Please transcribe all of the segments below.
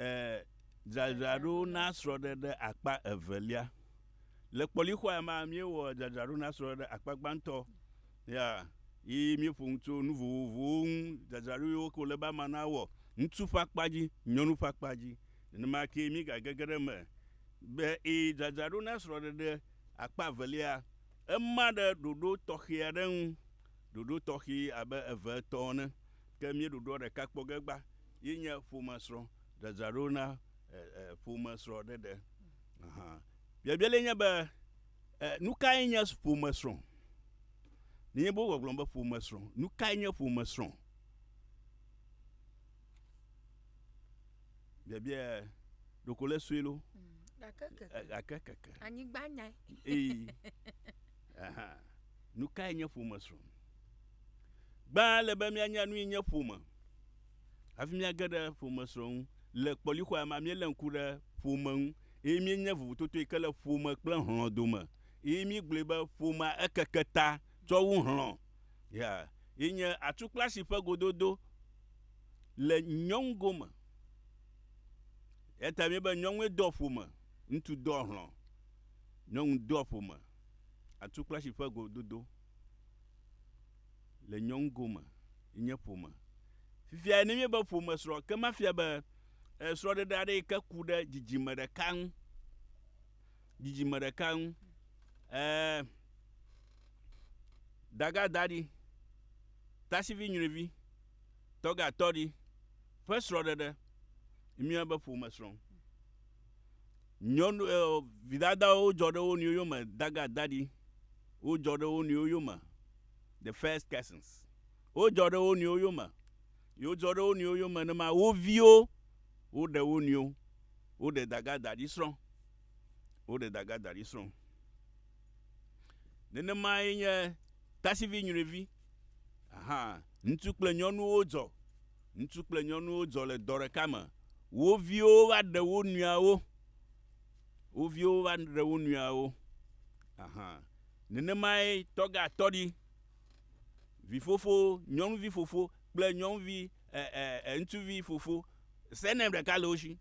Ẽ, dzadzraɖo na srɔ̃ɖeɖe akpa evelia. Le kpɔlixɔa mea, míewɔ dzadzraɖo na srɔ̃ɖeɖe akpa gbãtɔ. Ya, yi míeƒo nu tso nu vovovowo ŋu, dzadzraɖo yiwo ke wòle be amea nawɔ, ŋutsu ƒe akpa dzi, nyɔnu ƒe akpa dzi. Nenema kee míegagege ɖe eme be ẽ, dzadzraɖo na srɔ̃ɖeɖe akpa evelia, ema ɖe ɖoɖo tɔxɛ aɖe ŋu, ɖoɖo tɔxɛ abe eve etɔ̃ ene. Ke míeɖoɖoa ɖeka kpɔ ge gbã ye nye ƒomesrɔ̃, dzadzraɖo na ƒomesrɔ̃ɖeɖe. Biabia lae nye be, Nu kae nye ƒomesrɔ̃? Nenye be wogblɔgblɔ be ƒomesrɔ̃, nu kae nye ƒomesrɔ̃? Biabia ɖeko le sue loo. Gake keke. Anyigba nyae. Ee. Nu kae nye ƒomesrɔ̃? Gbã ele be míanya nui nye ƒome hafi míage ɖe ƒomesrɔ̃ ŋu. Le kpɔlixɔa mea, míelé ŋku ɖe ƒome ŋu eye míenya vovototoe ke le ƒome kple hlɔ̃ dome eye míegblɔe be ƒomea ekeke ta tsɔ wu hlɔ̃. Ya ye nye atukplasi ƒe gododo le nyɔnu gome. Eya ta míebe nyɔnue doa ƒome, ŋutsu doa hlɔ̃. Nyɔnu doa ƒome, atukplasi ƒe gododo. Le nyɔnugo me, nye ƒome. Fifia ne míebe ƒome srɔ̃, ke mafia be srɔ̃ɖeɖe aɖe yi ke ku ɖe dzidzime ɖeka ŋu. Dzidzime ɖeka ŋu. Ɛɛ, dagadaɖi, tasivi nyruivi, tɔgatɔɖi ƒe srɔ̃ɖeɖe, míeyɔnɛ be ƒome srɔ̃. Nyɔnu e vidadawo dzɔ ɖe wo nɔewo yome dagadaɖi. Wodzɔ ɖe wo nɔewo yome, the first persons. Wodzɔ ɖe wo nɔewo yome ye wodzɔ ɖe wo nɔewo yome ne ma wo viwo woɖe wo nɔewo. Woɖe dagadaɖi srɔ̃. Woɖe dagadaɖi srɔ̃. Nenemae nye tasivi nyruivi. Aha, ŋutsu kple nyɔnuwo dzɔ Ŋutsu kple nyɔnuwo dzɔ le dɔ ɖeka me. Wo viwo va ɖe wo nɔeawo. Wo viwo va ɖe wo nɔeawo. Aha. Nenemae tɔgatɔɖi, vifofo, nyɔnuvi fofo kple nyɔnuvi e, e, e, ŋutsuvi fofo, surname ɖeka le wo si.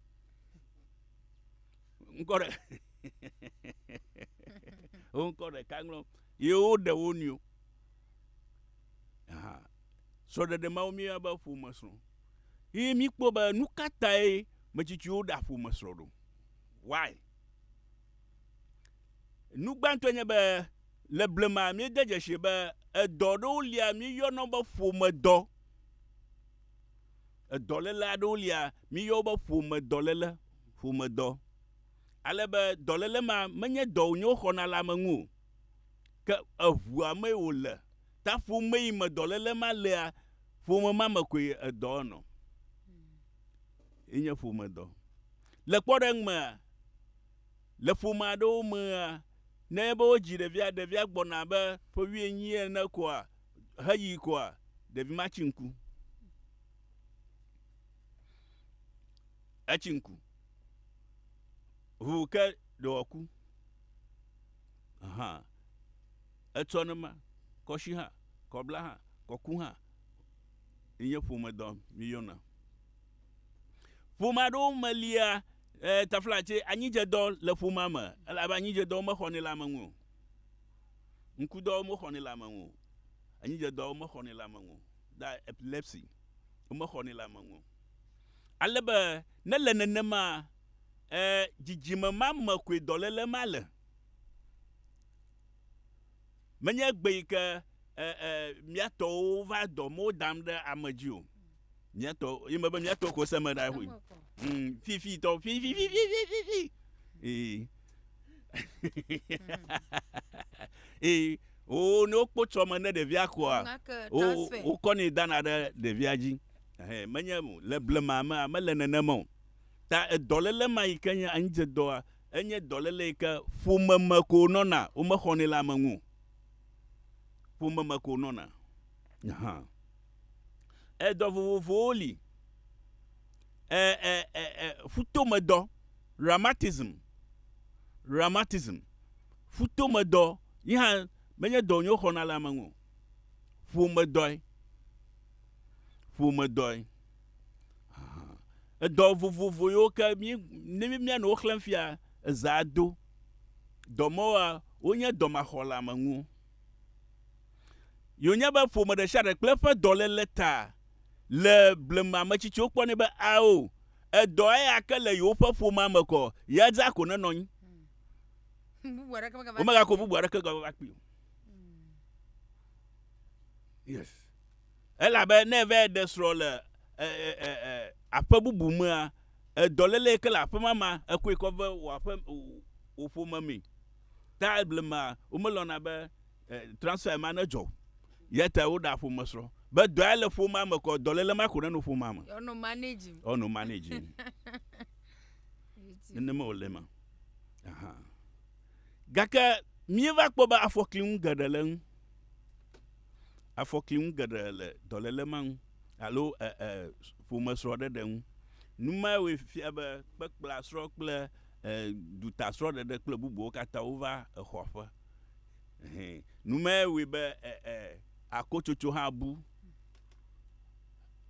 Ŋkɔ ɖe. wo ŋkɔ ɖeka ŋlɔm. Ye woɖe wo nɔewo. Aha. Srɔ̃ɖeɖe mawo míeyɔna be ƒomesrɔ̃ ye míkpɔ be nu ka tae metsitsiwo ɖea ƒomesrɔ̃ ɖo. Why? Nu gbãtɔe nye be le blema míede dzesi be edɔ ɖewo lia míeyɔna wo be ƒomedɔ. Edɔléle aɖewo lia míeyɔ wo be ƒomedɔléle, ƒomedɔ. Ale be dɔléle ma menye dɔ wònye woxɔna le ame ŋu o, ke eŋua mee wòle. Ta ƒom meyi me dɔléle ma lea, ƒome ma me koe edɔa nɔ. Enye ƒomedɔ. Le kpɔɖeŋu mea, le ƒome aɖewo mea, ne enye be wodzi ɖevia, ɖevia gbɔna abe ƒe wuienyi ene koa, heyi koa, ɖevi ma tsi ŋku. Etsi ŋku. Ŋu ke ɖe wòaku. Aha. Etsɔ ne ma, kɔshi hã, kɔbla hã, kɔku hã, nye ƒome dɔ mi yɔna. Ƒomea ɖewo me lia e, tafla tse anyidze dɔ le ƒomea me, elabe anyidze dɔwo mexɔ ne le ame ŋu o. Ŋku dɔwo mexɔ ne le ame ŋu o. Anyidze dɔwo mexɔ ne le ame ŋu o. Da epilepsy, womexɔ ne le ame ŋu o. Ale be ne le nenema e, dzidzime ma me koe dɔlele ma le. Menye egbe yi ke e, e, mía tɔwo va dɔ mɔ dam ɖe ame dzi o. Mía tɔ, yi me be mía tɔ ko se me ɖa ƒoe. Hmm, fifi tɔ, fifi, fifi, fifi, fifi. Ee. Ee, o ne wokpɔ tsɔ me ne ɖevia koa, o, wokɔ ne dana ɖe ɖevia dzi. Ehe, menye le blema me, mele nenema o. Ta edɔlele ma yi ke nye anyidzedɔa, Enye dɔléle yi ke ƒome me ko wonɔna, womexɔnɛ le ame ŋu o. Ƒome me ko wonɔna. Hã. Edɔ vovovowo li. E, e, e, e, ƒutomedɔ, rheumatism, rheumatism, ƒutomedɔ yi hã menye dɔ wonyo xɔna le ame ŋu o. Ƒomedɔe. Ƒomedɔe. Edɔ vovovo yiwo ke ne míanɔ wo xlẽm fia, ezãa do. Dɔ mawoa, wonye dɔ maxɔleamenuwo. Ye wònye be ƒome ɖe sia ɖe kple eƒe dɔléle ta le blema ametsitsiwo kpɔnɛ be, Ao, edɔ eya ke le yewoƒe ƒomea me kɔ, ya dzaa ko nenɔ anyi. Womegakɔ bubu aɖeke va kpee o. Elabe ne eva ɖe srɔ̃ le e, e, e, e, aƒe bubu mea, edɔléle yi ke le aƒe ma mea, ekɔe kɔ ve wò aƒe, wò ƒome mee. Ta blema womelɔ̃na be e, transfer ma nedzɔ o. Ya ta woɖa ƒomesrɔ̃. Be dɔa le ƒomea me kɔ, dɔléle ma ko nenɔ ƒomea me. Ɔnɔ manage. Ɔnɔ manage. Nenema wòle ma. Aha. Gake míeva kpɔ be afɔkli ŋu geɖe le ŋu. afɔkli ŋu geɖe le dɔléle ma ŋu alo e, e, ƒomesrɔ̃ɖeɖe ŋu. Nu mawoe fia be kpekpeasrɔ̃ kple e, dutasrɔ̃ɖeɖe kple bubuwo katã wova exɔa ƒe. Hɛn. Nu mae wɔe be e, e, akotsotso hã bu.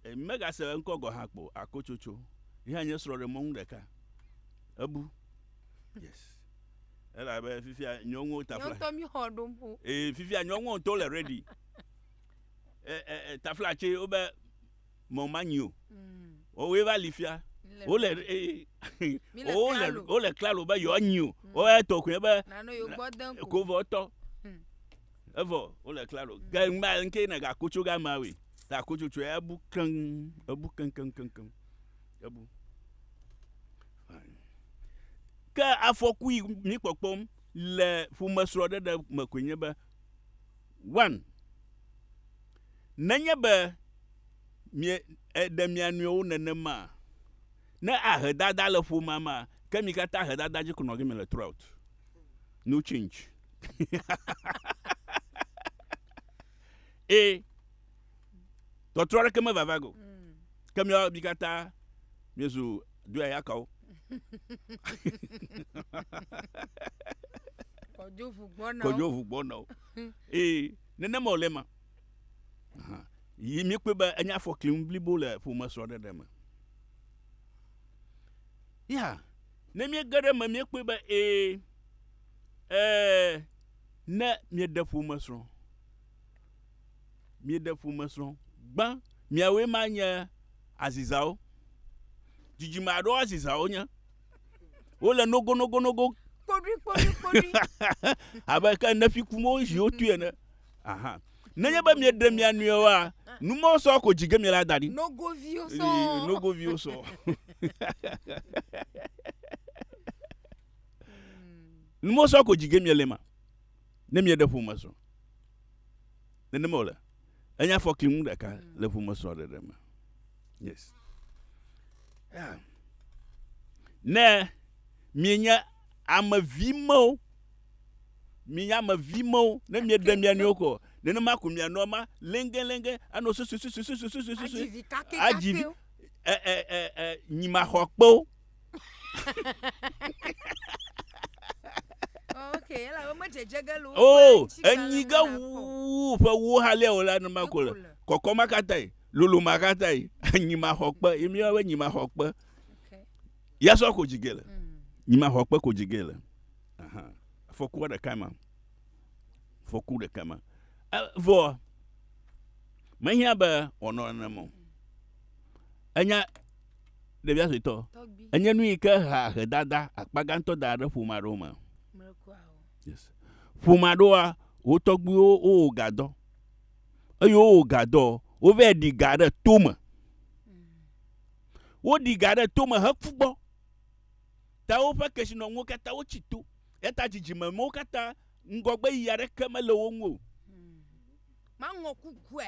E, megase eŋkɔ gɔ̃ hã kpɔ o, akotsotso. Yehã nye srɔ̃ɖemɔnu ɖeka. Ebu. Yes. Elabe fifia nyɔnuwo ta fla. Nyɔntɔ mi xɔ ɖom o. Ee, fifia nyɔnuwo to le ready. E, e, e, tafla tse wobe mɔ manyi o. Mm. Wowoe va li fia. Wole, ee, wole, wole klalo be yewoa nyi o. Mm. Woe tɔ koe be. Nano yewo gbɔ den ko. Kovɔ tɔ. Mm. Evɔ, wole klalo. Ke mm. ŋba ŋke ne ga kotso ga ma we. Ta kotso tsoe ebu keŋ, ebu keŋ keŋ keŋ keŋ. Ebu. Ke afɔku yi mí kpɔkpɔm le ƒomesrɔ̃ɖeɖe me koe nye be, one, nenye be mie, èɖe mia nɔewo nenema, ne ahe dada le ƒomea mea, ke mi katã ahe dada dzi ko nɔ gime le throughout. No change. e. tɔtrɔ aɖeke mevava go mm. ke miawo mi katã miezu doyayakawo kɔdzo ʋu gbɔna o ee nenema wòle ma yi mikpɔe be enye afɔkli ŋu blibo le ƒome srɔ̃ɖeɖe me ya ne miege ɖe me miekpɔe be ee ɛɛ ne mieɖe ƒome srɔ̃ Mieɖe ƒomesrɔ̃ gbã. Miawoe ma nye azizawo. Dzidzime aɖewo azizawo nye. Wole nogonogonogo. Kpoɖuikpoɖuikpoɖui. Abe ke Nefi kum wo zi wotui ene. Aha. Nenye be mieɖe mia nɔewoa, nu mawo sɔ ko dzi ge miela da ɖi. Nogoviwo sɔ. Ee, nogoviwo sɔ. Nu mawo sɔ ko dzi ge miele ma. Ne mieɖe ŋu me zɔ, nenema wòle. Enye afɔkli ŋu ɖeka le ŋu me zɔ ɖeɖe me. Yes. Yeah. Ne mienye ame vi mewo, mienye ame vi mewo, ne mieɖe mia nɔewo kɔ, nenema ko mianɔ ma lenge lenge anɔ susu susu susu susu susu. Adzi vi kake kake. Adzi vi. Ɛ ɛ ɛ ɛ nyimaxɔkpewo. Okay, ela wo medzedze ge le wo o ƒe ŋuti kalẽ enyi ge me nakpɔ. wu ƒe wo halea o la numa ko le Eko le. kɔkɔ ma katã yi lolo ma katã yi nyi ma xɔ kpe yi mi yɔ be nyi ma xɔ kpe Okay. ya sɔ ko dzi ge le Mm. nyi ma xɔ kpe ko dzi ge le Ahan. fɔkua ɖeka ma fɔku ɖeka ma E- vɔ mehiã be wòanɔ nenem o enya Ɖevia suetɔ, enye nu yi ke hea ahedada akpa gãtɔ da ɖe ƒome aɖewo me. Yes. Ƒome aɖewoa, wo tɔgbuiwo wowɔ gadɔ. Eye wowɔ gadɔ, wovɛ ɖi ga ɖe tome. Woɖi ga ɖe tome heku gbɔ. Ta woƒe kesinɔnuwo katã wotsi to. Eta dzidzime mewo katã ŋgɔgbe yiyi aɖeke mele wo ŋu o. Maŋɔ kukue.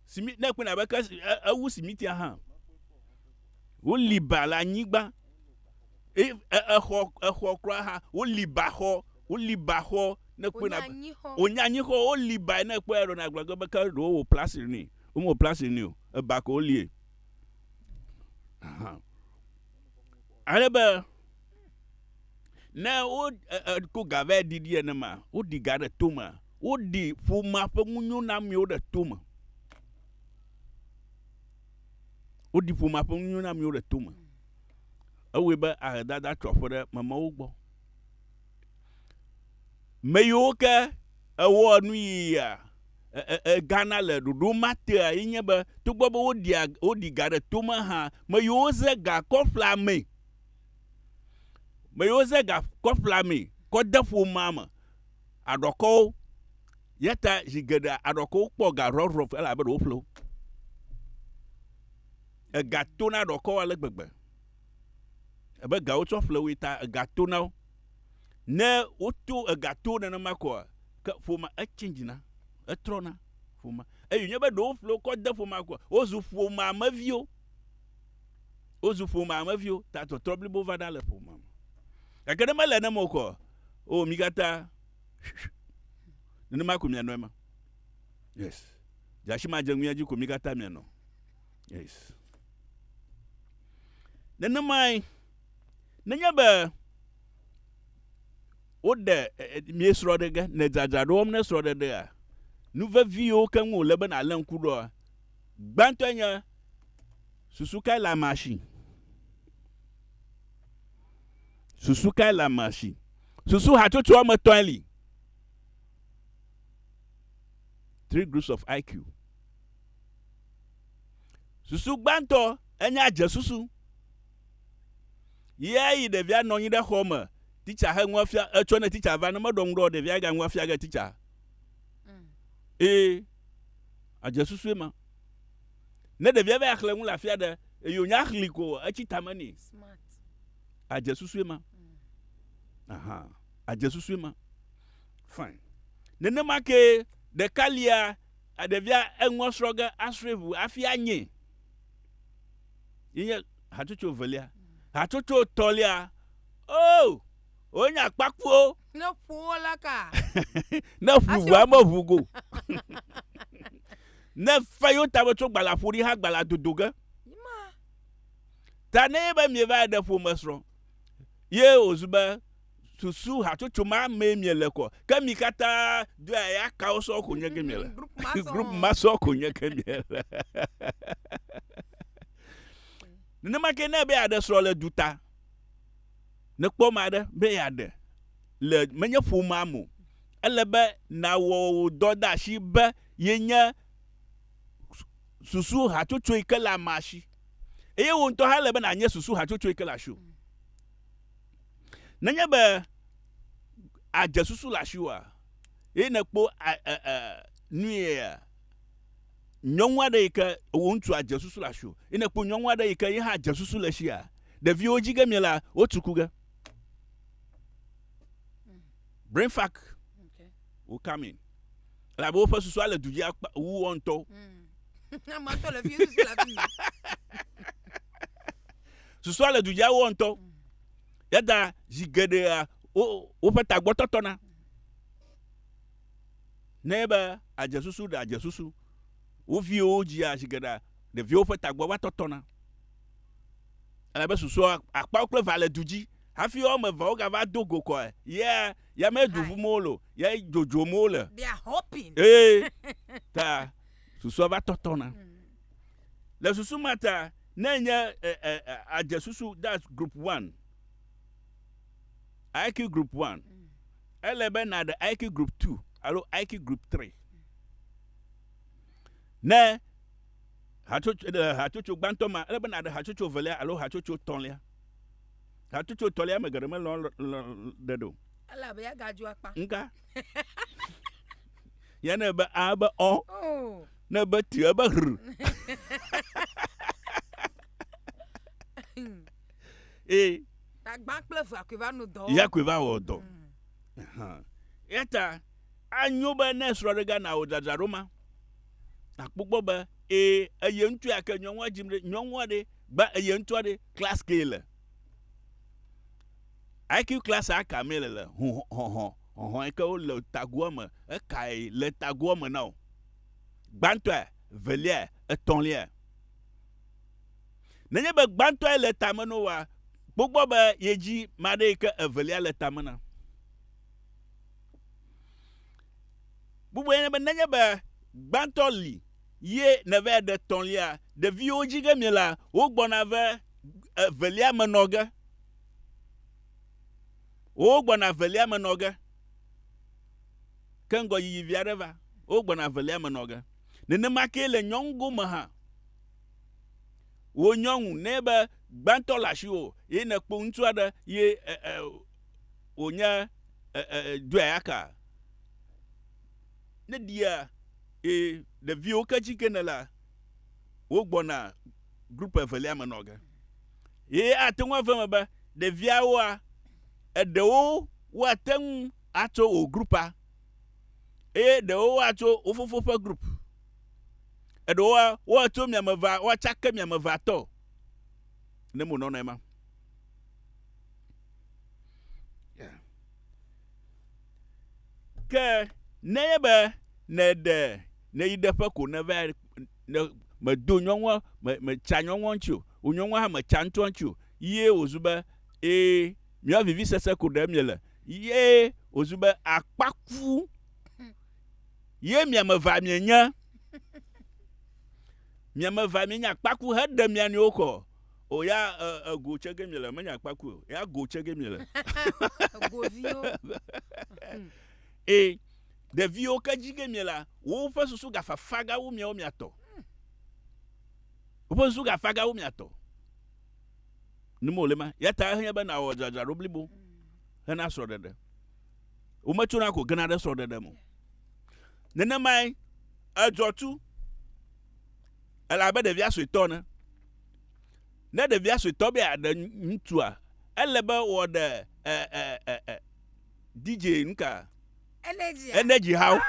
Simi, ne ekpɔe abe ke e, ewu simitia hã. Woli ba le anyigba. E, e, exɔ, exɔ kura hã. Woli ba xɔ. Woli ba xɔ ne ekpɔe na. Wonya anyi xɔ. Woli ba ne ekpɔe ɖo na gblagbe be ke ɖo wò plasi ni. Womewɔ plasi ni o. Eba ko wolie. Aha. Ale be ne wo e, e, ko ga vɛ ɖiɖi ene ma, woɖi ga ɖe tome. Woɖi ƒomea ƒe ŋunyonamio ɖe tome. Woɖi ƒomea ƒe ŋunyonamio ɖe tome. Ewɔe be ahedada tso aƒe ɖe mamewo gbɔ. Me yiwo ke ewɔa nu yia egana le ɖoɖo ma tea ye nye be togbɔ be woɖia woɖi ga ɖe tome hã, me yiwo ze ga kɔ ƒlea amee. Me yiwo ze ga kɔ ƒlea amee kɔ de ƒomea me. aɖɔkɔwo. Yata zi geɖe aɖɔkɔwo kpɔ ga rɔrɔf elabe ɖe woƒle wo. Ega to na aɖɔkɔwo ale gbegbe. Ebe gawo tsɔ ƒle woe ta ega to na wo. Ne woto ega to nenema koa, ke ƒoma echange na, etrɔna ƒoma. Eye nye be ɖe woƒle wo kɔ de ƒoma koa, wozu ƒoma me viwo. Wozu ƒomea me viwo ta tɔtrɔ blibo va ɖa le ƒomea me. Gake ne mele ne mo kɔ, o mi katã nenema ko mianɔ ema. Yes. Dzasi ma dze ŋuia dzi ko mi katã mianɔ. Yes. Nenemae, nenye be woɖe mie srɔɖege ne dzadzra ɖo wɔm ne srɔɖeɖea, nu veviwo keŋ wòle be nàlé ŋku ɖoa, Gbãtɔe nye, Susu kae le amea si? Susu kae le amea si? Susu hatsotso woame etɔ̃e li. Three groups of IQ. Susu gbãtɔ enye adzesusu. Ɣeya ɣi ɖevia nɔ anyi ɖe xɔ me, titsa he nua fia, etsɔ ne titsa va, ne meɖɔ ŋu ɖe o, ɖevia ga nua fia ge titsa. Ee. Adze susu ema. Ne ɖevia va xlẽ nu le afi aɖe eye wònya xli ko etsi tame nɛ. Adze susu ema. Aha, adze susu ema. Fine. Nenema ke ɖeka lia ɖevia eŋua srɔ̃ ge asrɔ̃e ʋu hafi anyɛ. Yenye hatsotso velia. Hatsotso tɔlia, oh, wonye akpakuwo. Ne ƒuwo la ka. ne ƒu ʋua meʋu go. ne fe yo tame tso gbala ƒo ɖi ha gbala dodo ge. Ta ne be mie va ɖe ƒome srɔ̃. Ye ozu be susu hatsotso ma mee mie le kɔ. Ke mi katã do ya kawo sɔ ko nye ke mie le. Group ma sɔ ko nye ke mie le. Nenema ke ne be aɖe srɔ̃ le duta. Ne kpɔ ame aɖe be yeaɖe le menye ƒomea me o, ele be nàwɔ wò dɔdeasi be yenye susu hatsotso yi ke le amea si. Eye wò ŋutɔ hã ele be nànye susu hatsotso yi ke le asiwò. Nenye be àdze susu le asiwòa, eye nèkpɔ a, a, a, nuyea, nyɔnu aɖe yi ke wò ŋutsua dze susu le asiwò, yi ne kpɔ nyɔnu aɖe yi ke ye hã dze susu le sia, ɖeviwo dzi ge mie la, wotu ku ge. Brain fuck will come in. Elabe woƒe susua le du dzi akpa wu wo ŋutɔwo. Susua le du dzi wo ŋutɔ. Yada zi geɖea woƒe tagbɔ tɔtɔna. nɛ be adze susu ɖe adze susu. Wo viwo wodzia zi geɖe ɖeviwo ƒe tagbɔ va tɔtɔna. Ele be susua akpawo kple va le du dzi hafi wo ame eveawo gava do go kɔe. Ye ya me du ʋum wole o, ye dzodzom wole. Eye ta susua va tɔtɔna. Le susu ma ta, ne enye adze susu, that's group one, IQ group one, Ele be nàɖe Aiki Group Two alo Aiki Group Three. Ne hatsotso ɖe hatsotso gbãtɔ ma, ele be nàɖe hatsotso evelia alo hatsotso etɔ̃lia. Hatsotso etɔ̃lia ame geɖe melɔ̃ ɖe ɖo. Ele abe ya gadzro akpa. Ŋka. Ya ne be a be ɔ. Oh. Ne be ti ebe hr. Ee. Tagbã kple ʋea koe va nu dɔ. Ya koe va wɔ dɔ. Mm. Eya ta anyo be ne srɔ̃ɖega nawɔ dzadzraɖo ma, nakpɔ gbɔ be ee eye ŋutsu ya ke nyɔnua dzim ɖe nyɔnua ɖe gba eye ŋutsua ɖe klas ke le. IQ class a ka me le le hɔhɔ hɔhɔ ke wo le tagoa me eka e le tagoa me na o. Gbãtɔa, velia, etɔ̃lia. Nenye be gbãtɔe le tame no wa, kpogbɔ be ye dzi maɖe yi ke evelia le tame na. Bubue nye be nenye be gbãtɔ li ye nèvae ɖe tɔ̃lia, ɖeviwo dzi ge miela, wogbɔna ve evelia me nɔ ge. Wogbɔna evelia me nɔ ge. Ke ŋgɔ yiyi vi aɖe va, wogbɔna evelia me nɔ ge. Nenema kee le nyɔnugo me hã. Wò nyɔnu, ne be gbãtɔ le asiwò ye nèkpɔ ŋutsu aɖe ye wònye dweaka, ne ɖia ye ɖeviwo ke dzi ke nèlea, wogbɔna group evelia me nɔ ge. Ye ate ŋu ave eme be ɖeviawoa, eɖewo woate ŋu atso wò groupea. eye ɖewo woatso wo fofo ƒe group eɖewoa woatso miame va woatsake miame va tɔ ne mo nɔnɔ ema ke ne ye be ne ɖe ne yi ɖe ƒe ko ne va ne me do nyɔnua me me tsa nyɔnua ŋuti o o nyɔnua hã me tsa ŋutua ŋuti o ye wozu be ee mia vivi sese ko ɖe mie le Ye wòzu be akpaku ye mia me va mienye. Mia me va mienye akpaku heɖe mia nɔewo kɔ. O ya ego tse ge miele menye akpaku o. Ya go tse ge miele. Egoviwo. Ee, ɖeviwo ke dzi ge miela, woƒe susu gafafa gawu miawo miatɔ. Woƒe susu gafafa gawu miatɔ. nim wòle ma. Ya ta ehiã be nàwɔ dzadzraɖo blibo hena srɔ̃ɖeɖe. Wometsona ko gena ɖe srɔ̃ɖeɖe me o. Nenemae edzɔ tu ele abe ɖevia suetɔ ene. Ne ɖevia suetɔ be yeaɖe ŋutsua, ele be wòaɖe e, e, e, e, DJ nuka? Energy. Energy hawo.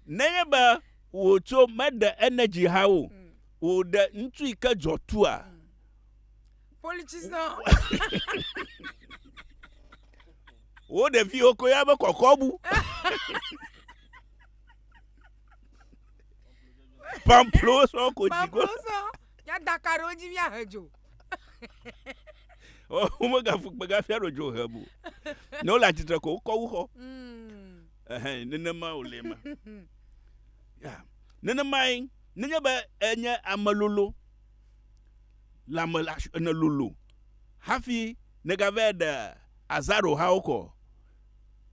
Nenye be wòtso meɖe energy ha o, mm. wòɖe ŋutsu yi ke dzɔ tua. Mm. Politician. Wo ɖeviwo ko ya be kɔkɔbu. Pamplo sɔ ko dzi go. Pamplo sɔ. Ya daka ɖe wo dzi mi ahe dzo. Wo megafu kpegafia ɖo dzo he bu. Ne wole atsitre ko wokɔ wu xɔ. Mm. Ɛhɛ, nenema wòle ma. Ya, nenemae, nenye be enye ame lolo, le ame la sh- ene lolo, hafi negavɛ ɖe azaro hawo kɔ.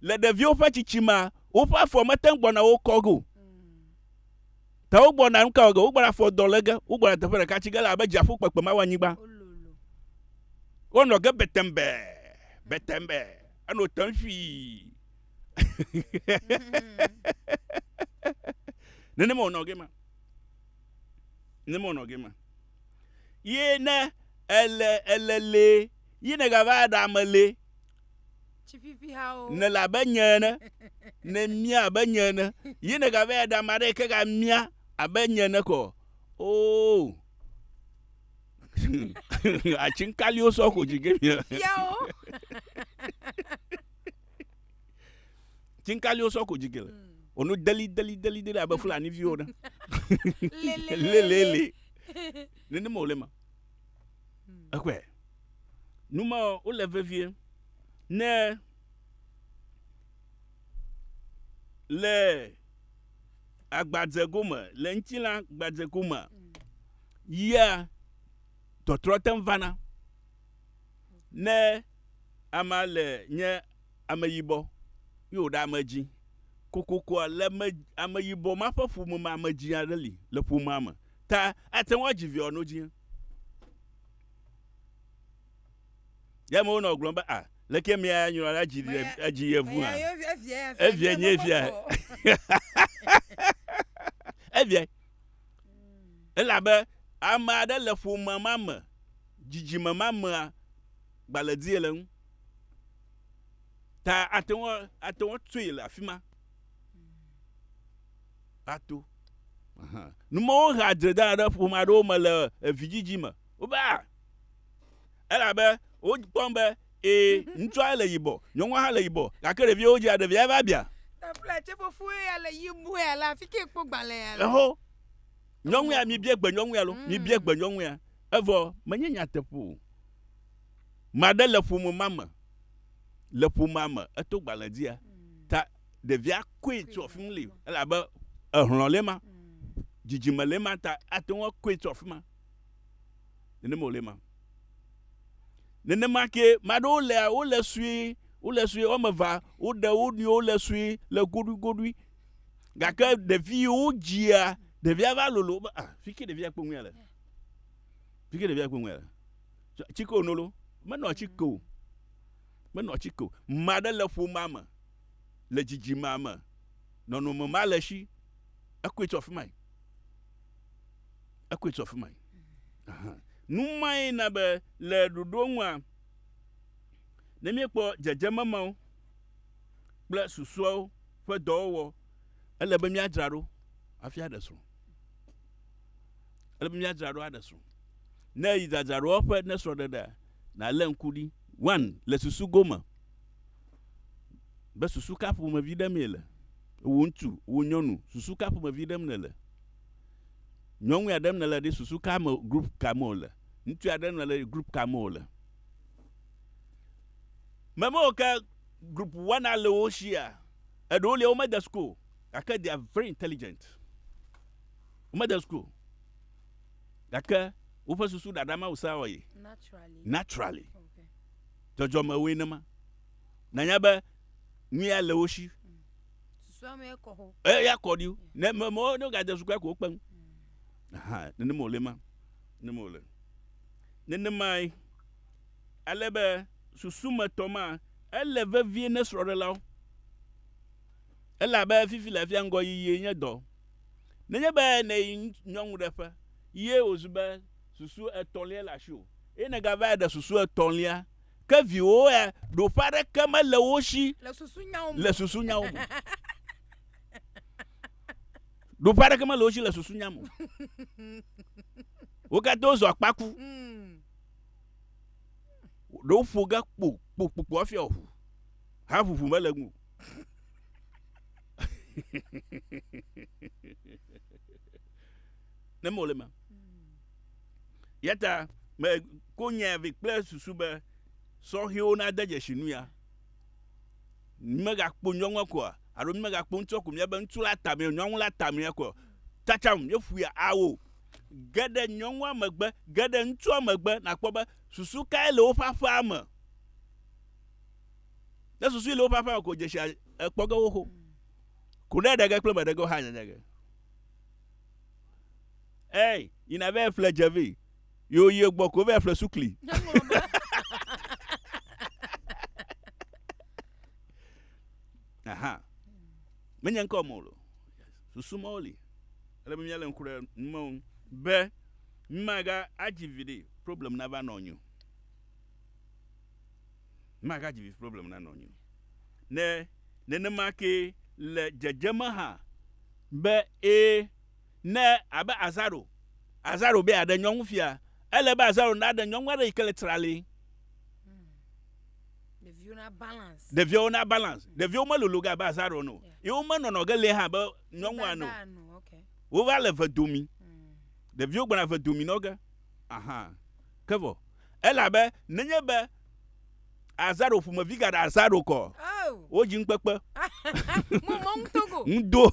Le ɖeviwo ƒe tsitsima, woƒe afɔ mete ŋu gbɔna wo kɔ ge o. Ta wogbɔna nu ka wɔ ge? Wogbɔna afɔ dɔ le ge, wogbɔna teƒe ɖeka tsi ge le abe dziaƒo kpekpe ma wɔ anyigba. Wo lolo. Wonɔ ge betɛmbɛ, betɛmbɛ, enɔ te ŋui. nenema wònɔ gema nenema wònɔ gema ye ne ele ele le ye ne gava ɖe ame le ne le abe nye ene ne mia abe nye ene ye ne gava ɖe ame aɖe ke ga mia abe nye ene kɔ ooo oh. atsinkaliwo sɔ ko dzi ge mia. tsinkaliwo sɔ ko dzike le wònu deli deli deli deli abe fulani viwo ne lelele nenema wòle ma ekɔe numa wole vevie ne le agbadze gome le ŋuti la agbadze gome yia tɔtrɔ te vana. ne amea le nye ameyibɔ ye wòɖe ame dzi kokokoa, le ame, ameyibɔ ma ƒe ƒome me ame dzi aɖe li le ƒomea me ta ate ŋu adzi viawo no dzi. Ya me wonɔ gblɔm be, a, leke mia ya nyrɔ la dzi ɖe edzi yevu hã. Evia nye via. Evia. Elabe ame aɖe le ƒome ma me, dzidzime ma mea gbalẽdie le eŋu. Ta ate ŋu ate ŋu atsoe le afi ma ato. Numɔwo hea dzredana ɖe ƒome aɖewo me le evidzidzi me. Wobe a Elabe wokpɔm be ee, ŋutsua le yibɔ, nyɔnua hã le yibɔ, gake ɖeviwo dzea ɖevia va bia. Eho, nyɔnu ya, mibie gbe nyɔnu ya lo, mm. mibie gbe nyɔnu ya. Evɔ menye nyateƒe o. Maɖe le ƒome ma me, le ƒomea me, eto gbalẽ dzia, mm. ta ɖevia koe tso afi mu li, elabe ehlɔ̃ le ma, mm. dzidzime le ma ta ate ŋu koe tso afi ma. Nenema wòle ema. Nenema ke, mea ɖewo lea, wole sue, wole sue, woame vea, woɖe wo nɔewo le sue le goɖuigoɖui. Gake ɖevi yi wodzia, ɖevia va lolo wobe, ah, fi ke ɖevia kpɔ ŋuia le. Fi ke ɖevia kpɔ ŋuia le. Tsike wòno lo, menɔ tsike o. Menɔ tsike o. Ame aɖe le ƒomea me, le dzidzimea me, nɔnɔme ma le esi, ekɔe tso afi mae. Ekɔe tso afi mae. Nu mae na be le ɖoɖo ŋua, ne míekpɔ dzedzeme mawo kple susɔewo ƒe dɔwɔwɔ, ele be míadzra ɖo hafi aɖe srɔ̃. Ele be míadzra ɖo aɖe srɔ̃. Ne èyi dzadzraɖowɔƒe ne srɔ̃ɖeɖea, nàlé ŋku ɖi. One, le susu gome be susu ka ƒomevi ɖem ye le. Wò ŋutsu, wò nyɔnu, susu ka ƒomevi ɖem nèle. nyɔnwuia ɖe me nèle ɖi susu ka me group ka me wòle ŋutsua ɖe me nèle ɖi group ka me wòle memewo ke group wana le wo shia eɖewo lia womede school gake they are very intelligent womede school gake woƒe susu ɖaɖa mawu sa wɔye naturally dzɔdzɔme woe nema nanya be ŋuia le wo shi. Eya kɔ ɖi ne me mo ne ga de su kura ko kpe ŋu. Aha, ne ne mo le ma. Ne mo le. Ne ne mai ale be susu me tɔ ma ele vevie ne srɔ ɖe lao. Ela be fifi le fia ŋgɔ yiyi nye dɔ. Ne nye be ne nyɔnu ɖe ƒe ye o zu be susu etɔlia le asio. Eye ne ga va ɖe susu etɔlia Ke viwòwo ya, ɖoƒe aɖeke mele wo si le susunyawo me. Le susunyawo me. ɖoƒe aɖeke mele wo si le susunya me. Wo katã wozɔ akpaku. Hmm. Ɖewo ƒo ge kpo kpo kpo kpo hafi aʋu. Haʋuʋu mele ŋu. ne mole ma Eya ta meko nyae vɛ kple susu be sɔhɛwo nade dzesi nu ya. Mímegakpo nyɔnua koa? Alo mímegakpo ŋutsua ko míabe ŋutsu la tamea, nyɔnu la tamea koa? Tsatsam, míeƒoe awo. Ge ɖe nyɔnua megbe, ge ɖe ŋutsua megbe nàkpɔ be susu kae le woƒe aƒea me. Ne susui le woƒe aƒea me ko dzesi ekpɔ ge wo xo. Kuɖeɖege kple meɖege hã nyanya ge. Hey, you never have played Javi. You you gbɔ ko vɛ fle sukli. Aha. Menye ŋkɔ mɔ lo. Susu mɔ li. Ele mi le ŋku ɖe mɔ be maga adzi vi ɖe problem na va nɔ nyu. magadzi vi problem na nɔnyi o. Ne nenema kee le dzedzeme hã be ẽ ne abe Azaro, Azaro be yeaɖe nyɔnu fia, ele be Azaro naɖe nyɔnu aɖe yi ke le trali. Ɖeviwo na balance. Ɖeviwo na balance. Mm. Ɖeviwo melolo ge abe azaro ene o. Ye womenɔnɔ ge lɛ hã abe nyɔnu ene o. Wova le ve domi. Mm. Ɖeviwo gbɔna ve domi nɔ ge. Aha. Ke vɔ Elabe nenye be Azaro ƒomevi gaɖe Azaro kɔ, oh. wodzi ŋukpekpe. Ŋdo.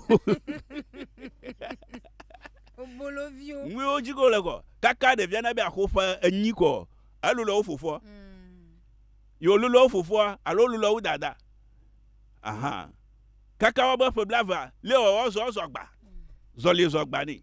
Oboloviwo. Ŋuiwo dzi ko le kɔ. Kaka ɖevia na be axo ƒe enyi kɔ. Elolo wo fofoa. Hmm. Yo lolo wo fofoa alo lolo wo dada. Aha. Kaka wo be ƒe blava. Leo wo zɔ zɔ gba. Hmm. Zɔli zɔ gba ni.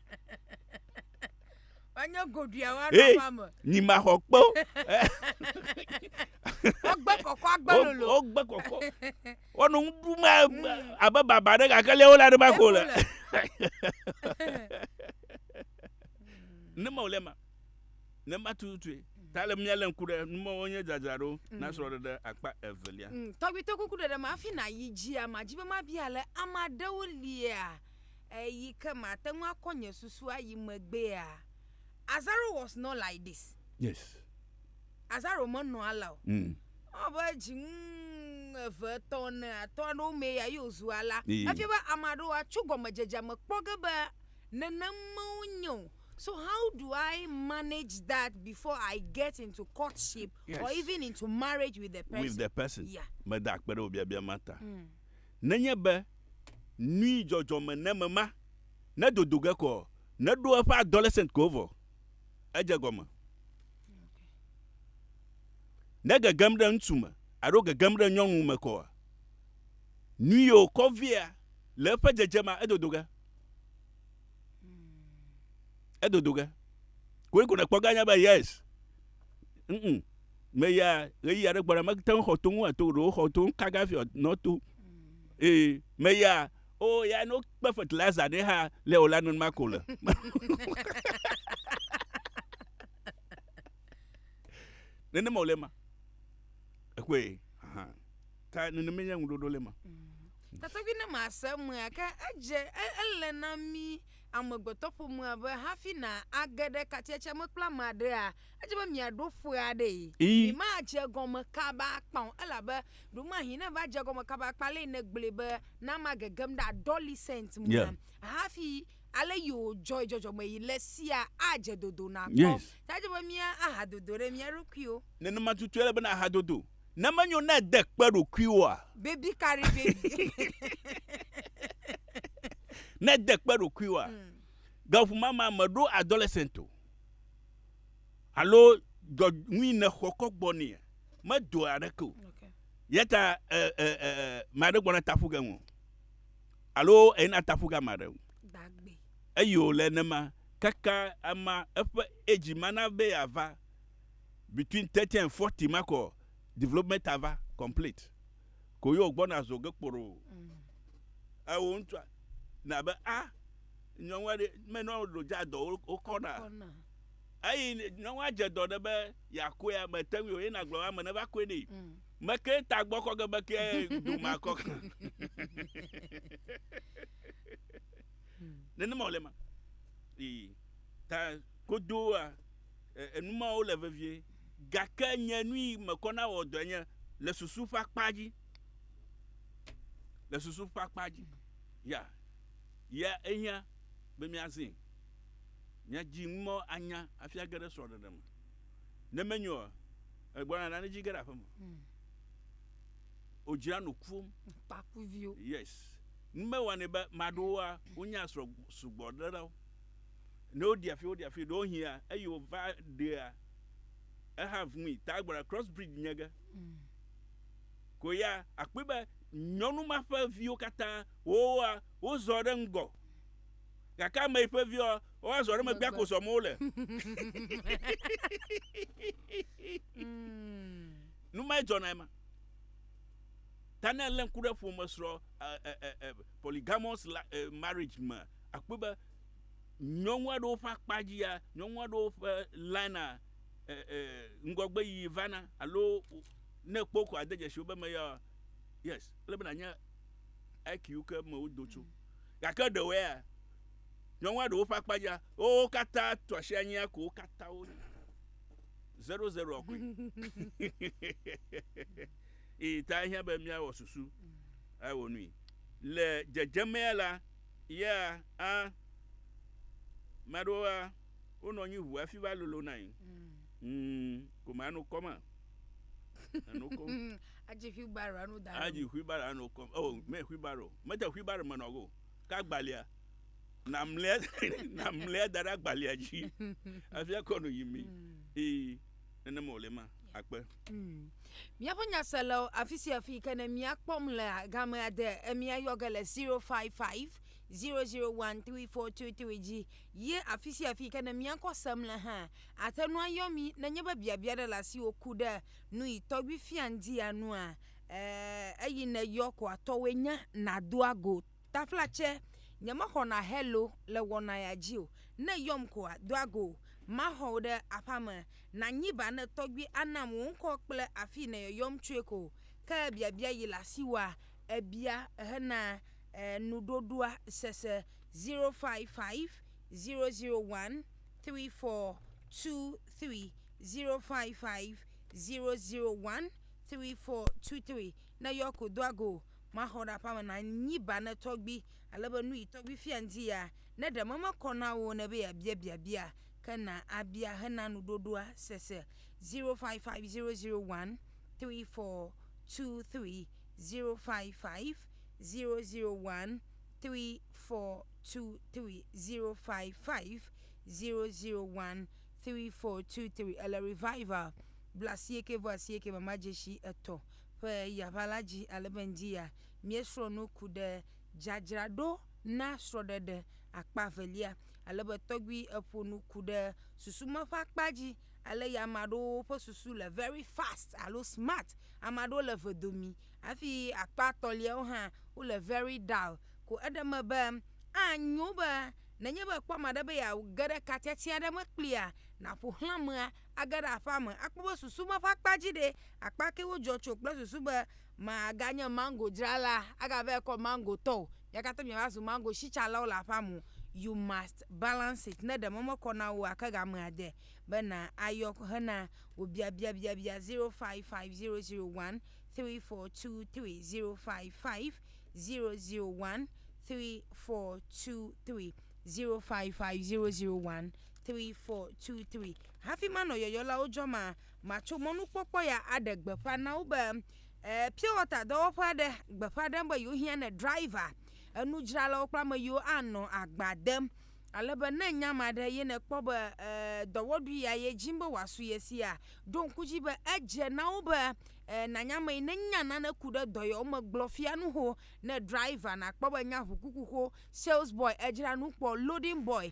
Wanya goɖuia wa ɖe Hey, aƒea me. nyi ma xɔ kpe o. Wogbe kɔkɔ agbe Wo- lolo. Wogbe kɔkɔ. Wonɔ nu ɖum Mm. abe- abe baba ɖe gake lé wole aɖe ma ko le. Ne ma wòle ma. Ne ma tututue. Ta le mía lé ŋku ɖe nu mawo nye dzadzraɖo na Mm. srɔ̃ɖeɖe akpa evelia. Mm, Tɔgbi to kuku ɖeɖe me hafi nàyi dzia, màdi be mabia le ame aɖewo lia? eyi ke mate ŋu akɔ nye susu ayi megbea? Azaro was not like this. Yes. Azaro menɔ alea o. Mm. Ewɔ be dzinu eve, etɔ̃, ene, atɔ̃ aɖewo mee ya ye wòzu alea. Ee. Efia be ame aɖewo atso gɔmedzedzea me kpɔ ge be nenem menye o. So how do I manage that before I get into courtship yes. or even into marriage with the person? With the person. Yeah. Meda akpe ɖe wò biabia ma ta. Mm. Nenye be nui dzɔdzɔme ne mema ne dodo ge kɔ ne ɖo eƒe adolescent ko vɔ. Edze gɔme. Ne gegem ɖe ŋutsu me alo gegem ɖe nyɔnu me kɔa, nui o kɔ via le eƒe dzedze ma edodo ge. Edodo ge. Koe ko ne kpɔ ge anya be yes. ŋ, me ya ɣeyiɣi aɖe gbɔna mete ŋu xɔ to ŋu ato ɖo xɔ to ŋu kaka fi nɔ to ee me ya o ya no kpe fertilizer ɖe ha le o la nɔn ma ko le nene mo le ma ekwe aha ta nene me nya ŋu ɖoɖo le ma mm. Tata bi ne ma se me ke edze ele na mi amegbetɔƒomea be hafi nàge ɖe katiatsia me kple ame aɖea, edze be miaɖo ƒe aɖee. Ii. Mimadze egɔme kaba akpa o, elabe ɖewomahĩ ne èva dze egɔme kaba akpa alea nègblɔe be, Na magegem ɖe adolescent mea, yeah. hafi ale yewodzɔe dzɔdzɔmeɣi le sia adze dodo nakpɔ. Yes. Ta edze be míahadodo ɖe mía ɖokuiwo. Nenema tutue ele be nàhadodo. Ne menyo na ède kpe ɖokuiwòa? Baby carry baby. Ne ède kpe ɖokuiwòa? Mm. Gaŋu ma ma meɖo adolescent o. Alo dɔ ŋui nèxɔ kɔ gbɔ nea? Medoa aɖeke o. Okay. Yata ɛ ɛ ɛ maɖe gbɔna taƒu ge ŋu. Alo eyina taƒu ga maɖe ŋu. Dagbe. Eyo le nema kaka ama eƒe edzi mana be yeava. between thirty and forty ma kɔ development ava complete ko yio gbɔna zo ge kporo ewo ŋutsua na be a ah, nyɔnu aɖe menɔ ɖo dza dɔ wokɔna eyi nyɔnua dze dɔ ɖe be yakɔe ame te ŋu ye nagblɔ ame ne va kɔe nɛ mm. meke ta gbɔ kɔ ge be ke doma kɔ kan nenema wòle ma ta kodoa enu mawo le vevie. Gake nye nu yi mekɔ na wɔ dɔe nye le susu ƒe akpa dzi. Le susu ƒe akpa dzi. Ya, ya ehiã be míazẽe. Míadzi nu mawo anya hafi age ɖe srɔ̃ɖeɖe me. Ne menyo oa, egblɔna na nedzi ge ɖe aƒe me. Hmm. Wodzra no kuwo. Kpakuviwo. Yes. Nu mewanɛ be maɖowoa, wonya srɔ̃ sugbɔ ɖe ɖa wo. Ne woɖi afi woɖi afi ɖewohia eyi wova ɖea eha vumui tagbara cross bridge nye ge mm. ko ya akpɔe be nyɔnu ma ƒe viwo katã wowoa wozɔ ɖe ŋgɔ gake ame yi ƒe viwo woazɔ ɖe megbea ko zɔm wole mm. numae dzɔna ema ta ne lé ŋku ɖe ƒome srɔ̃ polygamous marriage me Akpɔe be nyɔnu aɖewo ƒe akpa dzia, nyɔnu aɖewo ƒe lina e, e, ŋgɔgbe yiyi vana alo ne kpɔ ko ade dzesi wobe me ya yes ele be nanye IQ ke me wodo tso gake ɖewo ya nyɔnua ɖewo ƒe akpa dzia wo katã tu asi anyia ko wo katã wo zero zero koe eye ta hiã be míawɔ susu awɔ nui le dzedzemea la Yea, a. Ame aɖewoa, wonɔ anyi ʋu hafi va lolonae. Mm, ko me ano kɔm a. Ano kɔm. Adzi wheelbarrow ano da. Adzi wheelbarrow ano kɔm. Oh, me wheelbarrow. Mete wheelbarrow me nɔ go. Ka gbalia. Na mlea, na mlea da ɖe agbalia dzi. Afia kɔ no yi mi. Ee. nenem wòle ma akpe. Hmm. Míaƒe nyaselawo afi sia afi ke ne mía kpɔm le game ade emia yɔ ge le 055 001 3423 dzi ye afi sia afi ke ne mía kɔ sem le hã ate ŋu ayɔ mi nenye be biabia ɖe le asi woku ɖe nu yi tɔgbi fia ŋdi anua eh, eyi ne yɔ ko atɔwoe nya nadoa go Taflatse, Nyemexɔna Hello le wɔnaya dzi o. Ne yɔm koa, doa go. Maxɔ wò ɖe aƒea me. Nànyi ba ne tɔgbui anam wò ŋkɔ kple afii nèyɔyɔm tsoe ko. Ke biabia yi le asiwòa? Ebia hena nuɖoɖoa sese 055 001 3423, 055 001 3423. Ne yɔ ko, doa go. Maxɔ ɖe aƒea me na nyi ba ne tɔgbi, ale be nu yi tɔgbi fia ŋdi ya, ne ɖe meme kɔ na wò ne be ya bia biabia, ke na a bia he na nu ɖoɖoa sese. 055003401323055003401323 ele revival bla sieke vɔ asieke mama dzesi etɔ. ƒe yaʋa la dzi ale be ŋdi ya míesrɔ̃ nu ku ɖe dzadzraɖo na srɔ̃ɖeɖe akpa evelia, ale be tɔgbi eƒo nu ku ɖe susu me ƒe akpa dzi ale ya ame aɖewo ƒe susu le very fast alo smart, ame aɖewo le eve domi hafi akpa etɔ̃liawo hã wo le very dull. Ko eɖe eme be anyo be nenye be èkpɔ ame aɖe be yeage ɖe ka tiati aɖe me kplia, nàƒoxlã amea Age ɖe aƒea me akpɔ be susu ma ƒe akpa dzi ɖe akpa ke wodzɔ tso kple susu be maganye mango dzrala agava ekɔ mango tɔ o. Mia katã miava zu mango sitsalawo le aƒea me. You must balance it. Ne ɖe mɔ mekɔ na wò ake game ade be na ayɔ hena wò biabia biabia 055001 3423 055001 3423 055001 Three, four, two, three. Hafi manɔ yɔyɔlawo dzɔm ma, matso mɔnukpɔkpɔ ya aɖe gbeƒã na wo be eh, pure water dɔwɔƒe aɖe gbeƒã ɖem be yewohiã ne driver, enudzralawo kple ame yiwo anɔ agba dem. Ale be ne nya ame aɖe ye nèkpɔ be eh, dɔwɔɖui ya ye dim be wòasu ye sia, ɖo ŋku dzi be edze na wo be eh, nànya ame yi ne nya nane ku ɖe dɔyɔwo me gblɔ fia nu ho ne driver, nàkpɔ be nya ʋukukuxo, sales boy, edzra nu kpɔ, loading boy,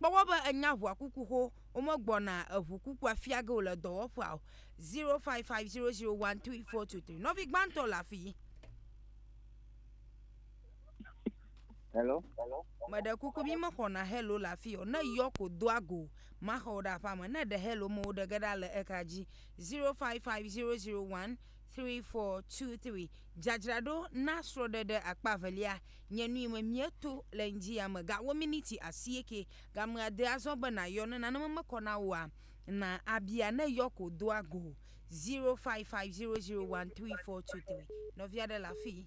kpɔ wɔ be ènya ʋua kuku xo womegbɔna eʋu kukua fia ge o le dɔwɔƒea o. Zero five five zero zero one three four two three. Nɔvi gbãtɔ le afii. Hello. Meɖe kuku mi mexɔna hello le afii o. Ne yɔ ko doa go maxɔ wò ɖe aƒea me. Ne ɖe hello me woɖe ge ɖa le ekra dzi. Zero five five zero zero one. Three, four, two, three Dzadzraɖo na srɔɖeɖe akpa evelia nye nui me mieto le ŋdzi ya me ga wo miniti asieke ga me ade azɔ be nayɔ ne nane me mekɔ na woa na abia ne yɔ ko doa go zero five five zero zero one three four two three nɔvia ɖe le afi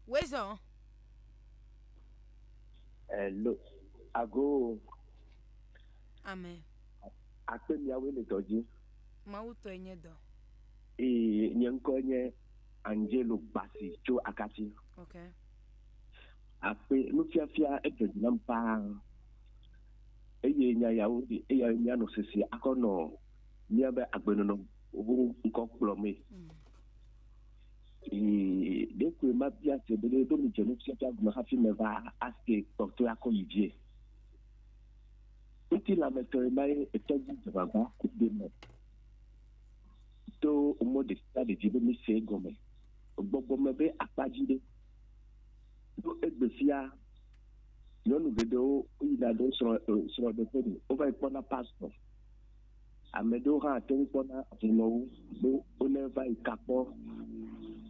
wezɔ Hello. Agoo. ame. Akpe miawoe le dɔ dzi. Mawu tɔe nye dɔ. Ee, nye ŋkɔe nye Angelo Gbasi tso Akatsi. Ok. Akpe nufiafia edze dzi nam paa. Eye nya yawo ɖi eya míanɔ sese akɔ nɔ míabe agbenɔnɔ ho ŋkɔ kplɔmee. Mm. Ee, ɖe koe mabia se be ɖo midze nufiafia gɔme hafi meva aske kpɔtɔe akɔ yi dzie. Ŋutilãmetɔe mae etɔ dzi dzeŋaʋa ku ɖe me to mɔ ɖe sia ɖe dzi be míese egɔme. Gbɔgbɔ me be akpa dzi ɖe, ɖo egbe fia nyɔnu geɖewo woyina ɖe srɔ̃ srɔ̃ɖeƒe me wova yi kpɔna pastor. Ame ɖewo hã ate ŋu kpɔna hlɔ̃wo be wone va yi ka kpɔ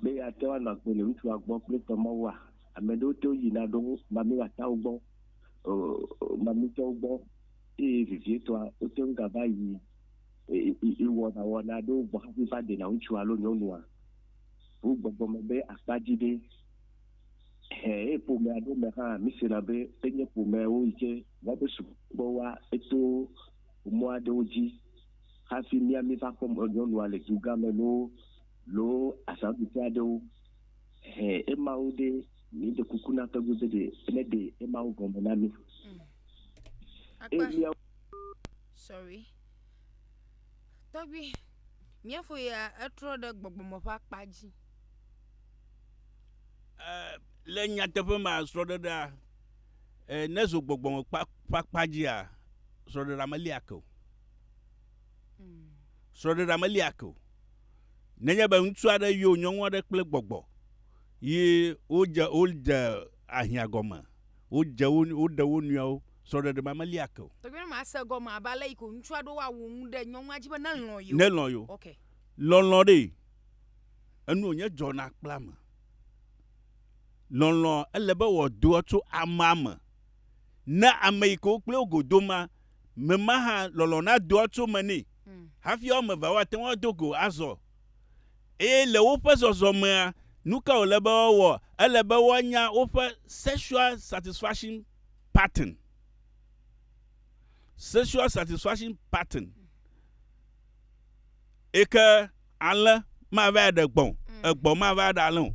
be yeate ŋu anɔ agbe le ŋutsua gbɔ kple tɔmɔwua. Ame ɖewo te ŋu yina ɖo mamlɛatɔwo gbɔ mamlɛtɔwo gbɔ eye vevietɔa, wote ŋu gava yi wɔnawɔna aɖewo gbɔ hafi va ɖena ŋutsu alo nyɔnua. Ƒu gbɔgbɔ me be akpa dzi ɖe, hẽ, eye ƒome aɖewo me hã, mísena be enye ƒomewo yi ke woaɖo subɔsubɔwoa to mɔ aɖewo dzi hafi mía míva kpɔ nyɔnua le dugã me loo loo azãɖuƒe aɖewo, hẽ, emawo ɖe. Míeɖe kuku na tɔgbe be ɖe neɖe ema wo gɔme na mí. Mm. Eye Akpa. míawo Sorry. Tɔgbi, mía fo ya etrɔ ɖe gbɔgbɔme ƒe akpa dzi. Eh, le nyateƒe ma srɔ̃ɖeɖea eh, ne zo gbɔgbɔme kpa- ƒe akpa dzia srɔ̃ɖeɖea melia ke o Mm. srɔ̃ɖeɖea melia ke o nenye be ŋutsu aɖe yɔ nyɔnu aɖe kple gbɔgbɔ Yi wodze wodze ahiã gɔme. Wodze wo woɖe wo nɔewo. Srɔ̃ɖeɖe ma meli ake o. Tɔgbi ne ma se gɔme abe ale yike ŋutsua ɖo wa wu nu ɖe nyɔnua dzi be ne lɔn yio. Ne lɔn yio. Ok. Lɔnlɔn ɖe enu wonye dzɔna kple ame. Lɔnlɔn ele be wɔ doa tso amea me ne ame yike wo kple wo go do ma me ma hã lɔnlɔn na doa tso me ne. Hafi wɔ me va wa te ŋua do go azɔ. Eye le woƒe zɔzɔmea, nuka wòle be woawɔ? Ele be woanya woƒe sexual satisfaction pattern. Sexual satisfaction pattern. Eke ale mava ɖe gbɔn, mm. egbɔn mava ɖe ale o.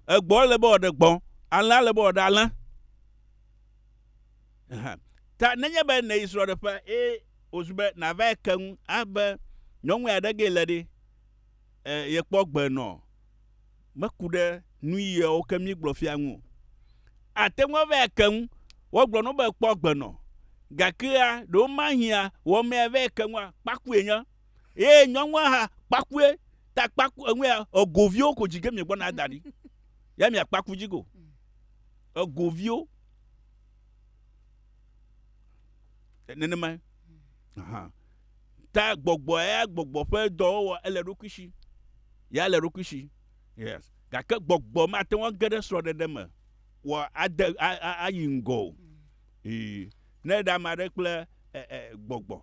Egbɔn le be wòɖe gbɔn, ale ale be wòɖe ale. hã ta. Nenye be nèyi srɔ̃ɖeƒea eye wòzu be nàvae ke nu abe nyɔnue aɖe gee le ɖe, e, yekpɔ gbe nɔ meku ɖe nuyiawo ke míegblɔ fia ŋu o. Àte ŋu avae ke nu. Wogblɔ na wò be kpɔ gbe nɔ. Gakea, ɖewomahia wɔmea vae ke nua, kpakue nye. Eye nyɔnua hã, kpakue. Ta kpaku enu ya, ego viwo ko dzi ge miegbɔna ada ɖi. Ya miakpaku dzi go. Ego viwo. nenemae ta gbɔgbɔ ya gbɔgbɔ ƒe dɔwɔwɔ ele ɖokui si ya le ɖokui si yes gake gbɔgbɔ mate ŋu age ɖe srɔ̃ɖeɖe me wɔ ade ayi ŋgɔ o ee ne ɖe ame aɖe kple e, e, gbɔgbɔ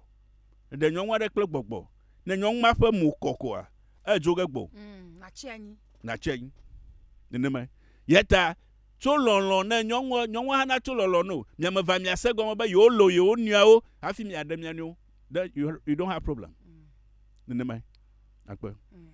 ɖe nyɔnu aɖe kple gbɔgbɔ ne nyɔnu ma ƒe mo kɔ koa edzo ge gbɔ mm, natsi anyi nenemae yeta Tso lɔlɔ̃ ne nyɔnua, nyɔnua hã natso lɔlɔ̃ no. Mia me va miase egɔme be yewolɔ̃ yewo nɔewo hafi miaɖe mia nɔewo. Ɖe you, you don't have problem. Nenemae. Akpe. Mm.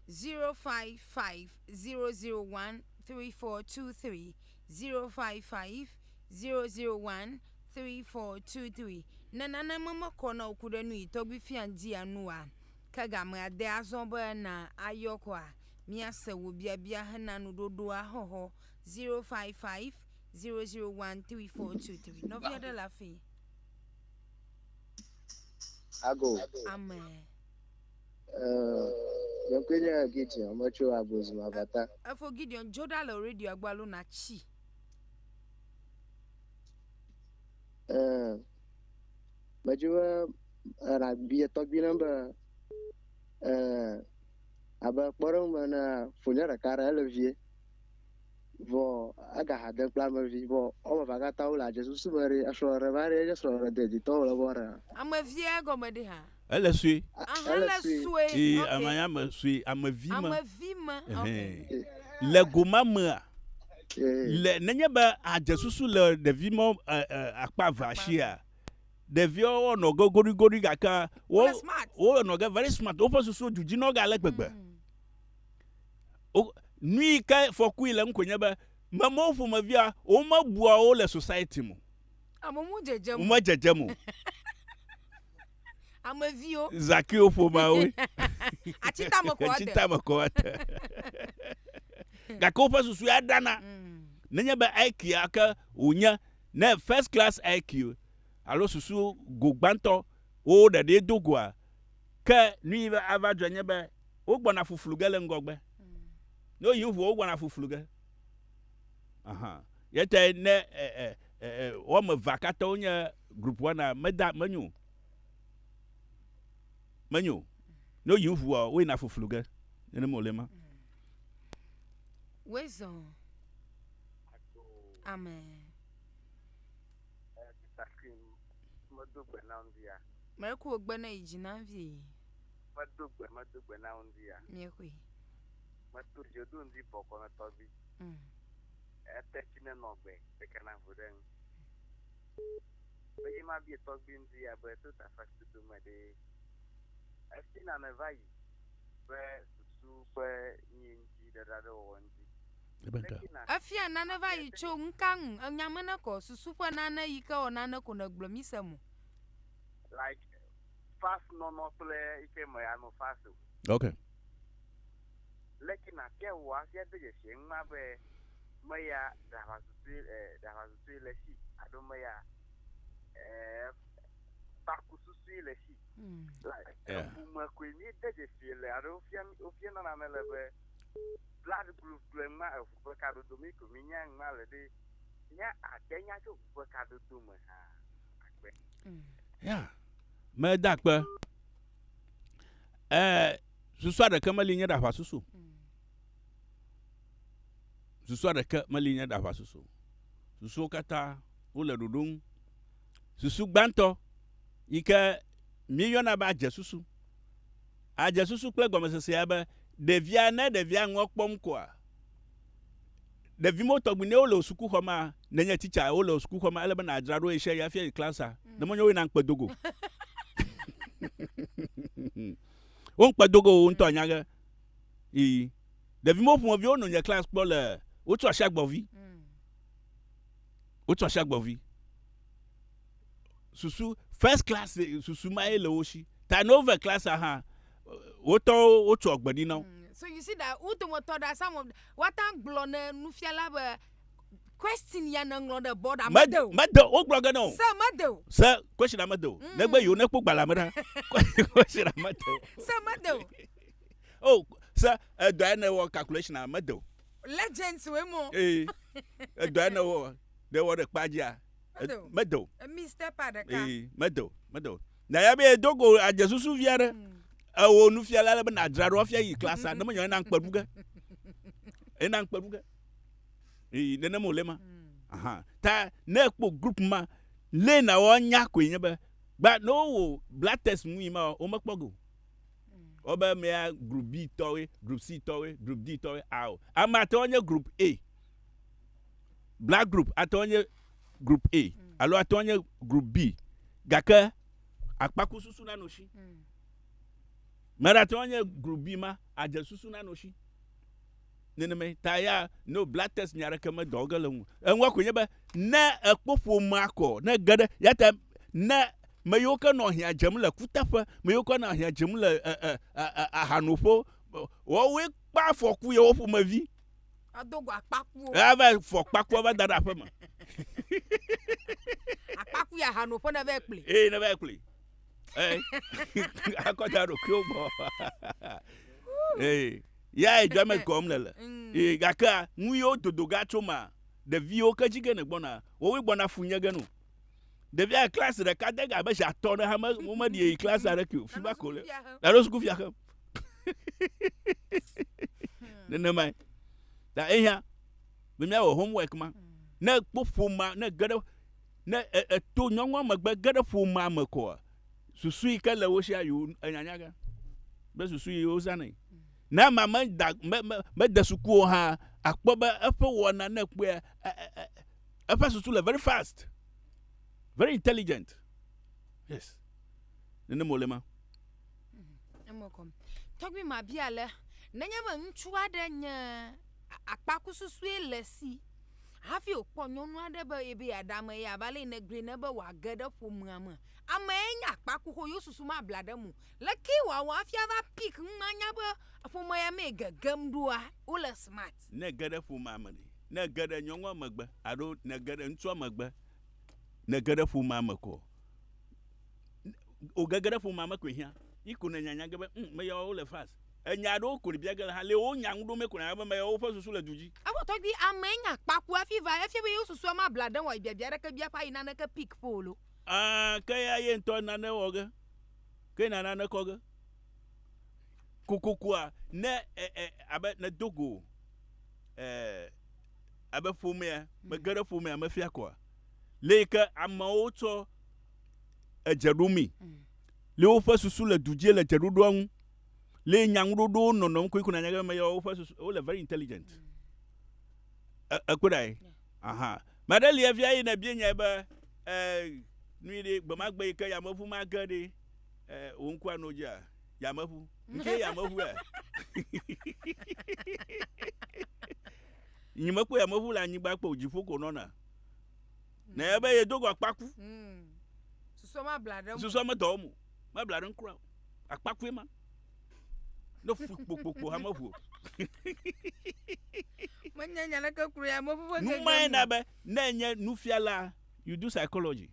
0550013423 0550013423 Ne nane memekɔ na wò ku ɖe nu yi tɔgbi fia ŋdi anu oa, ke gamea de azɔ be na ayɔ kɔa, míase wò biabia hena nuɖoɖoa xɔxɔ 0550013423. Nɔvi aɖe le afii. Ago. Ame. Nye ŋkɔe nye Gideon, metso Agozim Avata. Efo Gideon, dzo ɖa le radioa gbɔ alo nàtsi. Eh, medzi be eh, nàbia tɔgbi ɖem be eh, Abe kpɔɖeŋu me enea, fonye ɖeka aɖe ele vie, vɔ ega ha dem kple ame vi, vɔ woame evea katã wole adze susu me ɖi esrɔ̃ ɖeɖe va ɖi enye srɔ̃ ɖeɖe deditɔ wòle vɔ ɖea? Ame via gɔme ɖi ha? Ele sue. Aha ele sue. Ee, ame ya me sue, ame vi me. Ame vi me. Ehɛn. Le go ma mea, le nenye be adze susu le ɖevi ma akpa evea shia, ɖeviawo nɔ ge goɖigoɖi gake wo wo nɔ ge very smart woƒe susu du dzi nɔ ge ale gbegbe nu yi ke fɔkui le ŋkɔ nye be memewo ƒomevia womebua wo le society mo amomu dzedze mo me dzedze mo ameviwo zakiwo ƒomeawo atitame kɔ atitame kɔ ate gake woƒe susu ya dana mm. nenye be aikia ke wònye ne first class IQ alo susu go gbãtɔ wowo ɖeɖee do goa, ke nuyi va ava dzɔe nye be wogbɔna fuflu ge le ŋgɔgbe. Ne woyi ŋu wogbɔna fuflu ge. Aha. Yetae ne e, e, e, e, woame evea katã wonye group wɔna meda menyo o. Menyo o. Ne woyi ŋua woyina fuflu ge. Nenema wòle ma. Wezɔ. Amen. Mɛku wò gbe ne yi dzi na vi. Medo gbe medo gbe na ŋdi ya. Mìexoe. Meto dze do ŋdi bɔ kɔ ne tɔgbi. Mm. Ete tsi ne nɔ gbe ɖeka na ŋu ɖe ŋu. Eye ma bie tɔgbi ŋdi ya be to ta fa si do me ɖe. Esi na ne va yi be susu be nyi ŋdi ɖeɖa ɖe wɔwɔ ŋdi. Efia nane va yi tso ŋka ŋu enya me ne kɔ susu ƒe nane yi ke wɔ nane ko ne gblɔ mi se mo. Like fast nɔnɔ kple yi ke me ya no fast o. Okay. Leke na fia wò afia de dzesi eŋu ma be me ya ɖa va susu ɖa va susu le si ado me ya eh baku susu le si. Like. Yeah. Ƒome koe mi de dzesi le alo fia fia nana ne le be Blood group gblɔe ŋma eŋu ƒe kadodo mee ko minya ŋma le ɖe nya ade nya tso ŋu ƒe kadodo me hã akpe. Ya meda akpe. Eh susua ɖeke meli nye ɖaʋa susu. Susua ɖeke meli nye ɖaʋa susu. Susuwo katã wo le ɖoɖo ŋu. Susu gbãtɔ yi ke mi yɔna be adze susu. Adze susu kple gɔmesesea be ɖevia, ne ɖevia ŋua kpɔm koa, ɖevimo tɔgbi ne wole wò sukuxɔ mea, nenye titsa wole wò sukuxɔ mea, ele be nàdzra ɖo ɣesiaɣi hafi ayi klasia, ne menye woe na ŋkpe do go. Wo ŋkpe do go wò ŋutɔ anya ge. Ii. Ɖevimo ƒomeviwo no nye klasi kpɔ le Wotu Asi Agbɔvi. Wotu Asi Agbɔvi. susu first class eh, susu ma ye le wo si ta ne wove class hã wotɔwo wotsɔ agbe ɖi na wo. Mm, so you see that wo dometɔ ɖa some of woate ŋu gblɔ ne nufiala be question ya neŋlɔ ɖe bɔd a mede o mede o wogblɔ ge ne o se mede o se question a mede o mm. negbe yewo nekpɔ gbalẽ me ɖa question a mede o se mede o o oh, se edɔ ya ne wɔ calculation a mede o legends we mo ee edɔ ya ne wɔ ne wɔ ɖe kpa dzia mede o ee mede o mede o na ya be edo go adze susu vi aɖe mm. ewo nufiala ale be nadzra ɖo afia yi klasa ne menyɔ ena ŋkpe ɖuge ena ŋkpe ɖuge ee nenem wòle ma mm. ta ne ekpɔ group ma lé na wɔ nya koe nye be gba ne wowɔ black test mu yi ma womekpɔ go wobe mm. mea group b tɔwe group c tɔwe group d tɔwe ao ame atɔ nye group a Blood group ate ŋu nye group A mm. alo ate ŋu nye group B gake akpakususu nanɔ si. Mm. Mera ate ŋu nye group B ma adze susu nanɔ si. Nenema ta ya no blood test nya ɖeke medɔ ge le ŋu. Eŋua ko nye be ne ekpɔ ƒomea kɔ ne ge ɖe ya ta ne me yiwo ke nɔ ahiã dzem le kuteƒe me yiwo ke nɔ ahiã dzem le ahanoƒewo wɔwoe kpa afɔku yewo ƒomevi. Ado go akpakuwo. Ava fɔ kpakua va da ɖe aƒe me. Akpaku ya hano ƒe ne va kpli. Ee ne va kpli. Ee akɔ da ɖo kio gbɔ. Ee ya e jame kɔm le le. Mm. Ee gake nu yo dodo ga tso ma. Ɖeviwo ke jige ne gbɔna. Wowe gbɔna fu nye genu. Ɖevia klasi ɖeka de ga be zi atɔ ɖe ha me wo me ɖi yi klasi aɖe kio. Fi ba ko le. Alo suku fia xem. nenemae ta eya be míawɔ homework ma ne kpɔ ƒomea ne ge ɖe ne eto nyɔnua megbe ge ɖe ƒomea me koa susu yi ke le wo sia yi wo enyanya ge be susu yi wozanɛ ne ama meda me me mede suku o hã akpɔ be eƒe wɔna ne kpɔe eƒe susu le very fast very intelligent yes nenema wòle ma. Eme kɔm. Tɔgbi ma bia le nenye be ŋutsu aɖe nye akpakususue le si hafi wòkpɔ nyɔnu aɖe be ebe yeaɖe ame ya va le yi negblɔe ne be wòage ɖe ƒomea me. Amee nye akpakuxo yewo susu mabla ɖe eme o. Lekee wòawɔ hafi ava pik nu manya be ƒome ya mee gegem ɖoa wole smart. Ne ège ɖe ƒomea me ɖe? Ne ège ɖe nyɔnua megbe alo ne ège ɖe ŋutsua megbe ne ège ɖe ƒomea me koa? o gege ɖe ƒomea me koe hiã. Yi ko nènya nya ge be, ŋ, meyawo le fast. Ènya aɖewo koe bia ge le ha. Lee wonya nu ɖo me ko nànya be meyawo ƒe susu le du dzi. Evɔ tɔgbui amee nya kpa ku hafi va. Efia be yewo susua mabla ɖe wɔe biabia aɖeke bia ƒe ayi naneke pick pole o. Ã, ke ya ye ŋutɔ nane wɔ ge. Ke na nane kɔ ge. Kokokoa, ne e, e, abe nèdo go, e, abe ƒomea, mege ɖe ƒomea me fia koa, lee ke amewo tsɔ. edze ɖomee. Mm. Le woƒe susu le du dzi le dze ɖoɖoa ŋu. Le nyaŋuɖoɖowo nɔnɔm koe kuna nyagbe me yawo ƒe susu wole very intelligent. Mm. Ekpɔ ɖa ye. Aha. Mɛ aɖe lia via yina bia nyae be eh nui ɖe gbe ma gbe yi ke yameʋu ma ge ɖe eh wo ŋku anɔ dzia yameʋu. Nke yameʋu ya. Nyimekpɔ yameʋu le anyigba kpɔ dziƒo ko nɔna. Ne mm. ebe yedo go akpaku. Mm. Susua ma bla ɖe mo. Susua me dɔ mo. Ma bla ɖe nkura. Akpaku ye ma. Ne fu kpokpokpo ha me fu. Menye nya ɖe kekuru ya me ƒe. Numae na be ne nye nufiala you do psychology.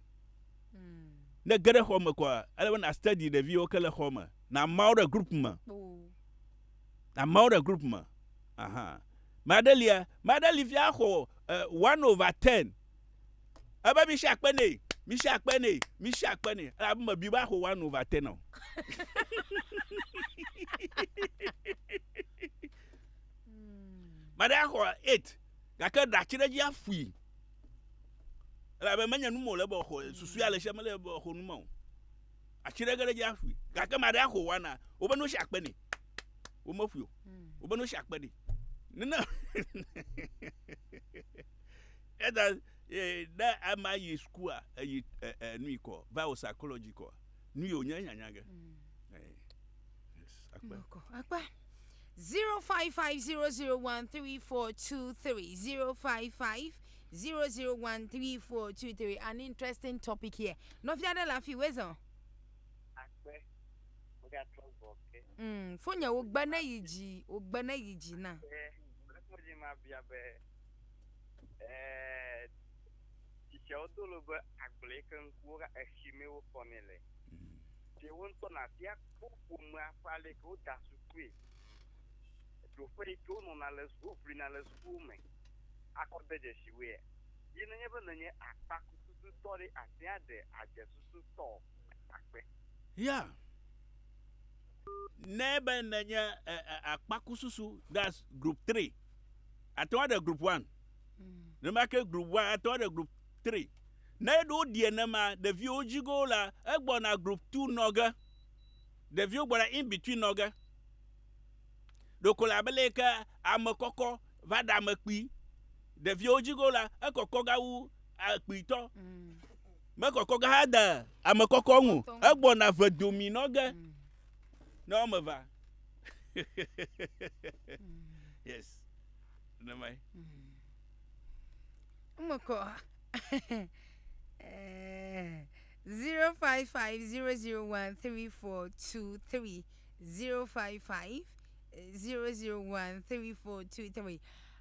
Mm. Ne geɖe xɔ me kɔ ele be na study ɖeviwo ke le xɔ me. Na mawo ɖe group me. Oh. amewo ɖe group me aha maɖe lia maɖe li fia xɔ eh, one over ten ebe mi si akpe nɛ mi si akpe nɛ mi si akpe nɛ elabe mebi be axɔ one over ten o maɖe axɔ eight gake ɖati ɖe dzi afui elabe menye nu me wòle be xɔ susui ale sia mele be xɔ nu me o atsi ɖe ge ɖe dzi aƒui gake ma ɖe axo wana wobe no si akpe nɛ womeƒui o hmm. wobe no si akpe nɛ nene ɛda e, ne ama yi sukua eyi e, e, nui kɔ va o psychology kɔ nu yi o nye nyanya ge hmm. akpe akpe. 0550013423 055 Zero zero one three four two three an interesting topic here. Nɔvi aɖe le afi wezɔ. Akpe megatrɔ gbɔ ke. Mm, fo nye wogbe ne yi dzi wogbe ne yi dzi na. Lɛkpɔdzi ma bia be ɛɛ tsitsiawo do lo be agble yi ke ŋkuwo ka etsi mee wokɔnɛ le. Ɖe wo ŋutɔ nabia kpɔ ƒomea ƒe ale yi ke woda sukui. Ɖoƒe yi ke wonɔna le suku woʋlina le sukuwo me. akɔdedzesiwoe ye nenye be nènye akpakutututɔ ɖe, àte ŋu aɖe adze susu tɔ akpe. Ya, ne be nènye akpakususu, that's group three, àte ŋu aɖe group one. Nenema ke group one ate ŋu aɖe group three. Ne ɖo ɖie nema, ɖeviwo dzi go la, egbɔna group two nɔ ge. Ɖeviwo gbɔna in between nɔ ge. Ɖeko le abe leye ke ame kɔkɔ va ɖe ame kpui. Ɖeviwo dzi go la, ekɔkɔ ga wu kpuitɔ. Mekɔkɔ ga hã de ame kɔkɔ ŋu. Egbɔna ve domi nɔ ge ne woame va. yes. Ne mai. Umekɔ. Eh, 0550013423 055001343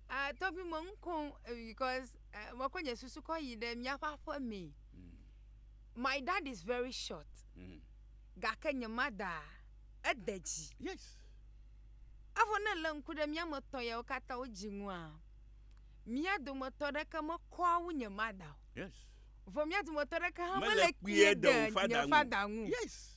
ah tɔgbi me ŋkom because uh, mekɔ nye susu kɔ yi ɖe míaƒe aƒe mee mm. my dad is very short mm. gake nye mada ede dzi yes. evɔ ne le ŋku ɖe mía me tɔn yawo katã wo dzi ŋua mía dometɔ ɖeke mekɔa wu nye mada o yes. vɔ mía dometɔ ɖeke hã mele kpie ɖe nye fada ŋu yes.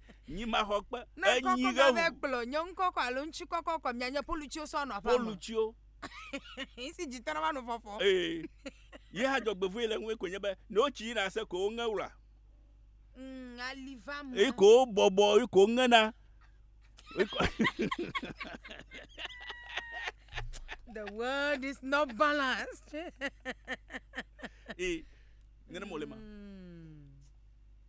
Nyi maxɔ kpe. Ne kɔkɔ ma vɛ kplɔ nye ŋkɔ kɔ alo ŋtsi kɔkɔ kɔ mia nye polu tsiwo sɔ nɔ aƒa me. Polu tsiwo. Ŋsi dzi tɔnɔ va nu fɔfɔ. Ee. Ye ha dzɔ gbevue le ŋue ko nye be ne wotsi yi na se ko wo ŋe wla. Mm, ali va me. Yi ko bɔbɔ yi ko ŋe na. The world is not balanced. Ee. Nene mo le ma. Mm.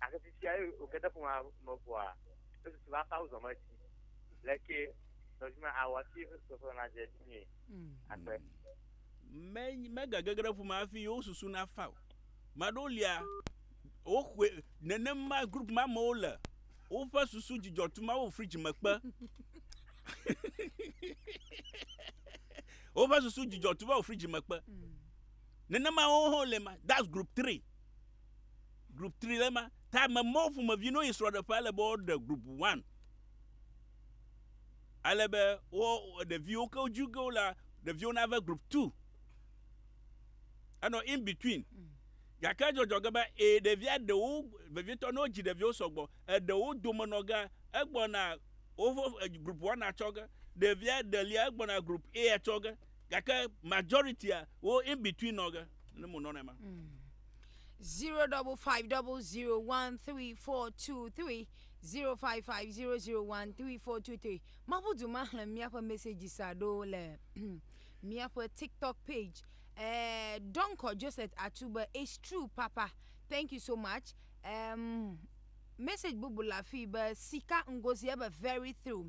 gake fifia eye wòke ɖe ƒomea me ʋɔa, esusu be aƒe awuzɔ me dzi. Le ke nɔvi me awɔ hafi eƒe susuƒe nadze edzi nyuie. Akpe. Me, megage ge ɖe ƒomea hafi yewo susu nafa o. Ame aɖewo lia, woxɔe, nenema group ma amewo le, woƒe susu dzidzɔ tum awo fridge me kpe. woƒe susu dzidzɔ tum awo fridge me kpe. Nenema wo hã wole ma. That's group three. Group 3 le ma. Ta me mɔ ƒomevi no yi srɔɖeƒe ale be woɖe group 1. Ale be wo ɖeviwo ke woju ge la ɖeviwo na ve group 2. Enɔ in between. Mm. Gake dzɔdzɔ ge be e ɖevia ɖewo vevitɔ no dzi ɖeviwo sɔgbɔ eɖewo dome nɔ ge egbɔna wo group 1 atsɔ ge ɖevia ɖelia egbɔna group A atsɔ ge. gake majority wo in between nɔ ge ne mo nɔ ne ma. Hmm. zero double five double zero one three four two three zero five five zero zero one three four two three mabu du ma xlẽ míaƒe messages aɖo le míaƒe tiktok page uh, eh, donko joseph atube it's true papa thank you so much um, message bubu la fi be sika ngozi ebe very through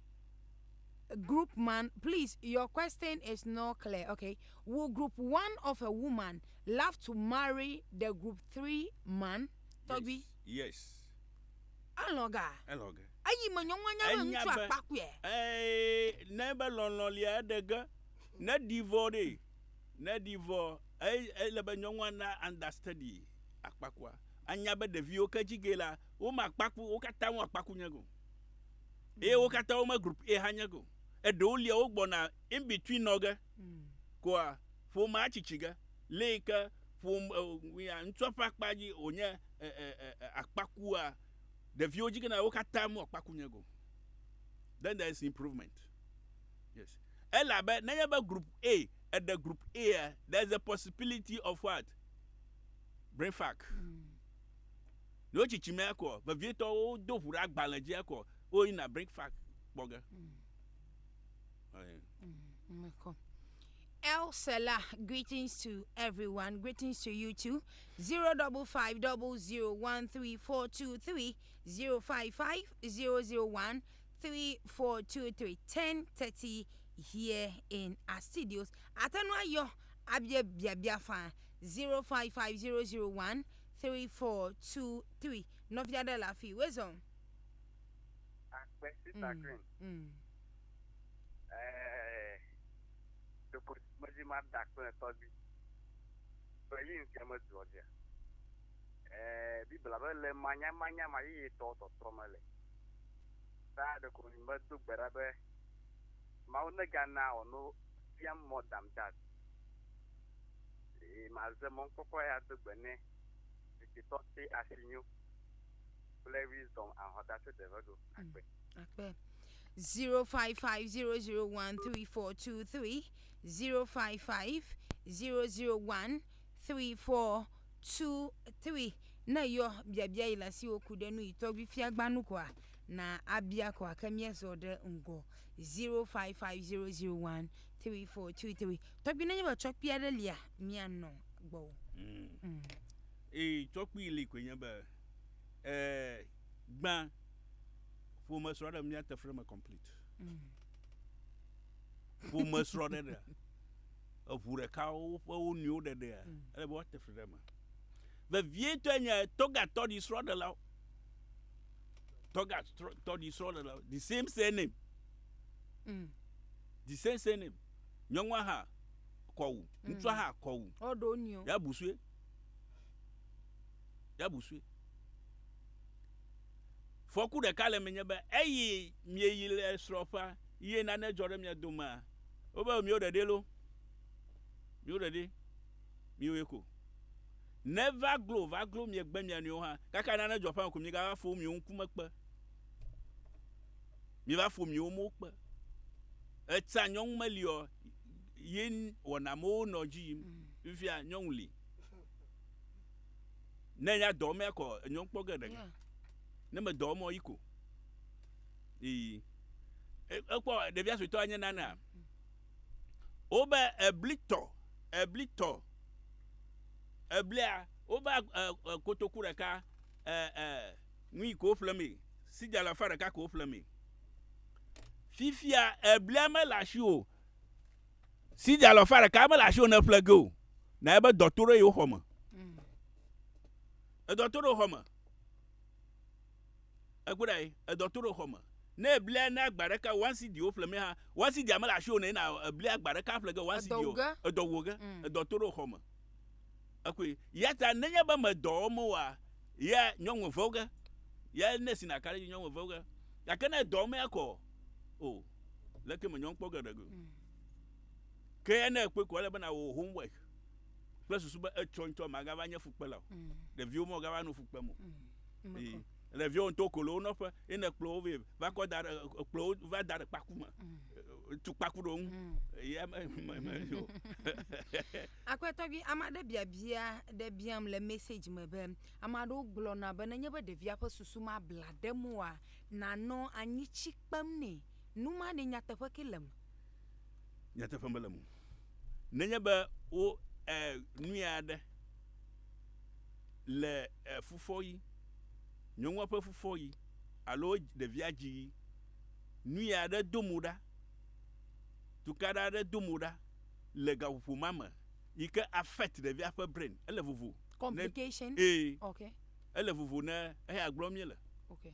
group man please your question is not clear okay will group one of a woman love to marry the group three man tɔgbi yes alɔga alɔga eyi me nyɔnua nya be ŋutsu akpakpɛ ee ne be lɔlɔ lia eɖe ge ne divɔ ɖe ne divɔ ele be nyɔnua na understudy akpakua anya be ɖeviwo ke dzi ge la wo ma kpaku wo katã wo akpaku nye go eye wo katã wome group A hanyɛ ko. Eɖewo lia wogbɔna in between nɔ ge mm. koa ƒomea tsitsi ge le yi ke ƒom eh, ŋutsua ƒe akpa dzi wònye eh, eh, akpakua ɖeviwo dzi gena wo katã mu akpaku nye go. Then there is improvement. Yes. Elabe nenye be group A eɖe group A there is a possibility of what? Brain fuck. Mm. Ɖewo tsitsi mɛ ekɔ vevietɔ wo do ʋu ɖe agbalẽ dzi ekɔ wo yina bring fact kpɔ ge. Mekɔ. El Selah, greetings to everyone. Greetings to you too. 0550013423 0550013423 10:30 here in our studios. Atanu ayɔ abia biabia fa 055001 Three four two three nɔvi aɖe le afii wezɔn. Akpe sister green. Ɛɛ ɖeko medi mada kple tɔgbi kple yi ŋuti medoɔ dzia. Ɛɛ bibla be le manyamanya ma yeyetɔwo tɔtrɔ me le. Ta ɖeko medo gbe ɖa be Mawu negana ɔno fiam more than that. Eye maze mɔnukpɔkpɔ ya do gbe nɛ tsitsitɔ te asi nyo kple wisdom ahɔta se deve do akpe. Akpe. 0550013423 0550013423 ne yɔ biabia yi le asiwo ku ɖe nu yi tɔgbi fiagbanu koa na abia koa ke miezɔ ɖe ŋgɔ 0550013423 Tɔkpi nenye be tsɔkpi aɖe lia mianɔ gbɔwò. Mm. Ee, tsɔkpi li koe nye be ee, gbã ƒome srɔ̃ɖe miate fre me complete. Mm. Ƒome srɔ̃ɖe ɖe eʋu ɖeka woƒe wo nɔewo ɖeɖea mm. ele be woate fre ɖe me. Vevietɔe nye tɔgatɔɖi srɔ̃ɖelawo. Tɔgatɔɖi srɔ̃ɖelawo the same surname. Mm. The same surname. Nyɔnua hã kɔ wu. Mm. Ŋutsua hã kɔ wu. Ɔɖo nio. Ya busue. Ya busue. Fɔku ɖeka le menye be eyi mieyi le srɔƒa ye nane dzɔ ɖe mia domea. Wobe mio ɖeɖe lo. Mio ɖeɖe. Mioe ko. Ne va glo va glo miegbe mia nɔewo hã. Kaka nane dzɔ ƒã ko miegava fo mio ŋkumekpe. Mi va fo miwo mo kpe. Etsã nyɔnu meli ɔ, yi wɔna mowo nɔ dzi yim. Fifia nyɔnu li. Ne nya dɔ mea kɔ nyɔnu kpɔ ge ɖeka. Ne me dɔ mɔ yi ko. Iyi. Ekpɔ ɖevia suetɔ anye nana. Wo be eblitɔ, eblitɔ. Eblia wo be kotoku ɖeka eh eh Nui ko woƒle mee. Sidi alafa ɖeka ko woƒle mee. Fifia eblia mele asiwò o. Sidi alafa ɖeka mele asiwò ne eƒle ge o. Na ebe dɔ to ɖe yewo xɔ me. Mm. Edɔ to ɖe xɔ me. Ekpɔ ɖa ye, edɔ to ɖe xɔ me. Ne eblia ne agba ɖeka one sidi woƒle mee ha. One sidi amele asiwò ne na eblia agba ɖeka ƒle ge one sidi o. Edɔ wo ge. Edɔ wo ge. Mm. Edɔ to ɖe xɔ me. Ekui. Yata nenye be me dɔ wɔm oa, ya nyɔnwe vewge. Ya ne si na kare nyɔnwe vewge. Ya ke ne dɔ wɔm ya kɔ, o, leke me nyɔn kpɔ ge ɖegu. Mm. Ke ya ne ekpe kɔ le bena wo homework. Kple susu be etsɔ ŋutɔ magava nye fukpela o. Mm. Ɖeviwo mo gava no fukpem o. Mm. le viwo ŋutɔ kolo wo nɔƒe ye ne kplɔ wo vɛ va kɔ da ɖe kplɔ wo va da ɖe kpaku me mm. tu kpaku ɖe ŋu mm. ya me me me yo. akpɛtɔ bi ame aɖe biabia ɖe biam le message me be ame aɖewo gblɔna be nenye be ɖevia ƒe susu ma bla ɖe moa nanɔ anyi tsi kpem nɛ nu ma ne nyateƒe ke le me. nyateƒe mele mu nenye be wo eh, nui aɖe Le fufɔɣi, nyɔnua ƒe fufɔɣi alo ɖevia dziɣi, nui aɖe do mo ɖa, tukaɖa aɖe do mo ɖa le gaƒoƒo ma me yi ke affect ɖevia ƒe brain. Ele vovo. Complication. Ẽ, okay. Ele vovo ne eya gblɔm míele. Okay.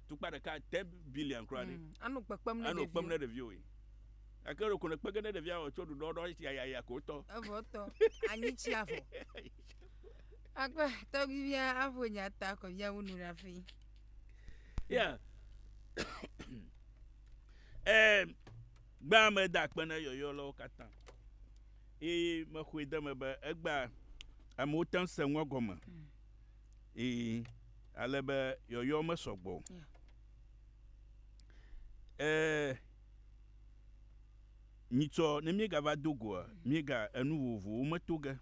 tukpa ɖeka te billion kura ɖe. Mm, anɔ kpekpem ne ɖeviwo. Anɔ kpem ne ɖeviwo ye. Ake ɖo kone kpege ne ɖevia wɔ tso ɖuɖɔ ɖɔ esi ayaya ko tɔ. Evo tɔ. Anyi tsi avɔ. Akpa tɔgbivia aƒo nya ta kɔ via wunu ɖe afi. Ya. Eh, gbea me da akpe ne yɔyɔ lɔwo katã. Eye me xɔe de me be egbea amewo te ŋu se ŋua gɔme. Mm. Ii, ale be yɔyɔ mesɔ gbɔ o. Yeah. Ee, nyitsɔ ne míegava do goa, míega enu vovovowo me to ge.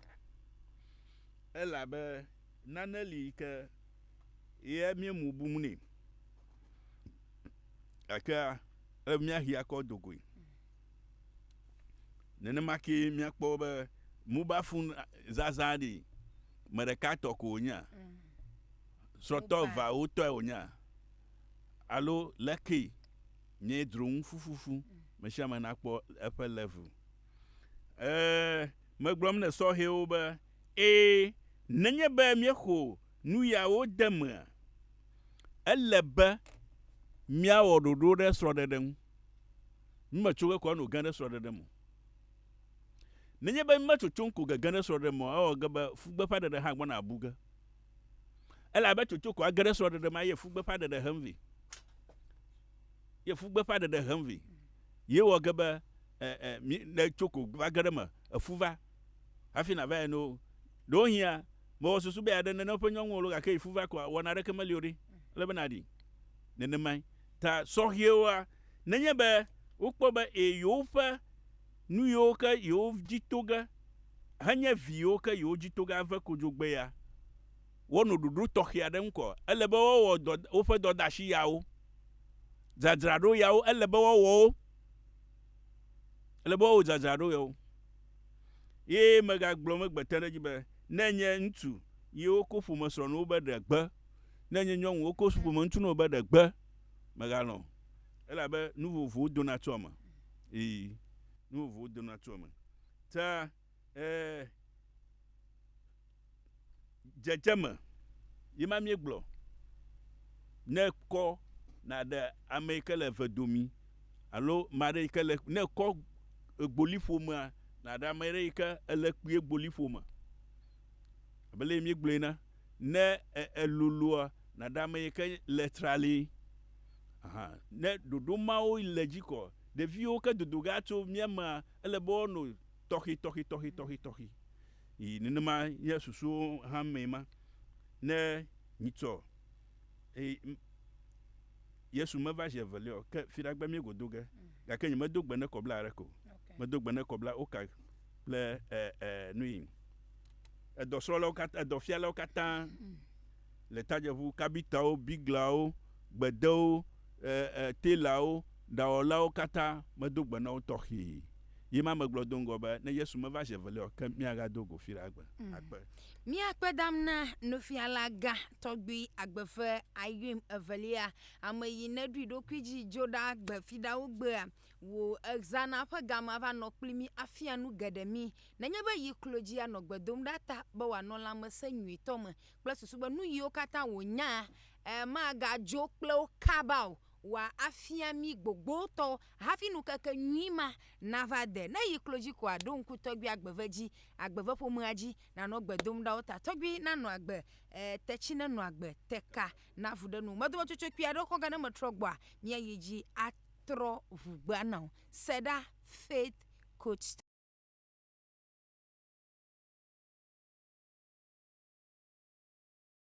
Elabe nane li yi ke ye míemu bum nɛ. Gakea, ele be míahi akɔ do goe. Nenema kee míakpɔ be mobile phone zazã ɖi me ɖeka tɔ ko wònyea? Srɔ̃tɔ eveawo tɔe wònyea? Alo lekee nye dzronu fufufu mesiame nakpɔ eƒe level? Ee, megblɔm ne sɔhɛwo be, Ee, nenye be míexo nuyawo de emea, ele be míawɔ ɖoɖo ɖe srɔ̃ɖeɖe ŋu. Mí me tso ge ko ano ge ɖe srɔɖeɖe me o. Nenye be mí me tsotsom ko ge ge ɖe srɔɖeɖe me o, ewɔ ge be fu gbeƒã ɖeɖe hã gbɔna bu ge. Ele abe tsotso ko age ɖe srɔɖeɖe me eye fu gbeƒã ɖeɖe hem vɛ. Ye fu gbeƒã ɖeɖe hem vɛ. Ye wɔ ge be e, e, mí, ne tso ko va ge ɖe eme, efu va hafi na va ene o. Ɖewohĩa, me wɔ susu be ya ɖe nene ƒe nyɔnu alo gake yi fu va koa, wɔna aɖeke meli o ɖe. Ele be na ɖi nenemae. ta sɔhɛwoa, nenye be wokpɔ be e yewoƒe nuyiwo ke yewo dzi to ge henye vi yiwo ke yewo dzi to ge ave kodzogbee ya, woanɔ ɖoɖo tɔxɛ aɖe ŋu kɔ. Ele be woawɔ dɔ woƒe dɔdeasi yawo. Dzadzraɖo yawo ele be woawɔ wo. Ele be woawɔ dzadzraɖo yawo. Ye megagblɔ megbete ɖe edzi be ne nye ŋutsu ye woko ƒomesrɔ̃nuwo be ɖe gbe Ne enye nyɔnu woko so ƒomeŋuti na wò be ɖe gbe, mègalɔ̃ o, elabe nu vovovowo dona tso eme. Ii, nu vovovowo dona tso eme. Ta ee, dzedzeme ye ma míegblɔ. Ne kɔ nàɖe ame yi ke le eve domi alo ame aɖe yi ke le, ne kɔ egboliƒomea nàɖe ame aɖe yi ke ele kpuie egboliƒome. Abe leye míegblɔe ene. Ne elolua, naɖe ame yi ke le trali ahan. Ne ɖoɖo mawo le dzi kɔ, ɖeviwo ke dodo ge atso mía mea, ele be woanɔ tɔxitɔxitɔxitɔxitɔxi. Yi nenema nye susuwo hã mee ma. Ne mitsɔ Yesu meva zi evelia o, ke fiɖagbe míegodo ge. Gake nyemedo gbe ne kɔbla aɖeke o. Medo gbe ne kɔbla oka. kple e, e, nui. Edɔsrɔ̃lawo katã, edɔfialawo katã le tadzeʋu, kabitawo, biglawo, gbedewo, e, e, telawo, ɖawɔlawo katã medo gbe na wo tɔxee. Ye ma megblɔ do ŋgɔ be, ne Yesu meva zi evelia o ke míagado go fi ɖe agbe. Mm. Akpe. Míakpe dam na nufialagã tɔgbi agbe ƒe ayuim evelia, ame yi neɖui ɖokui dzi dzo ɖa gbe fiɖawo gbea. wò exzana ƒe game ava nɔ kpli mí afia nu geɖe mí. Nenye be yi klo dzi anɔ gbe dom ɖa ta be wòanɔ lãmesẽ nyuitɔ me kple susu be nu yiwo katã wònyaa, e, magadzo kple wo kaba o. Wòa afia mí gbogbotɔ hafi nukeke nyui ma nava de. Ne yi klo dzi koa, ɖo ŋku tɔgbui agbeve dzi, agbeve ƒomea dzi, nànɔ gbe dom ɖa wo ta. Tɔgbui nanɔ agbe, e, tetsi nenɔ agbe, teka navu ɖe nuwò. Medometsotso kpui aɖe xɔ gã ne metrɔ gbɔa, míayi dzi a. trɔ ŋugbea na wò. Se ɖa, Faith Coach.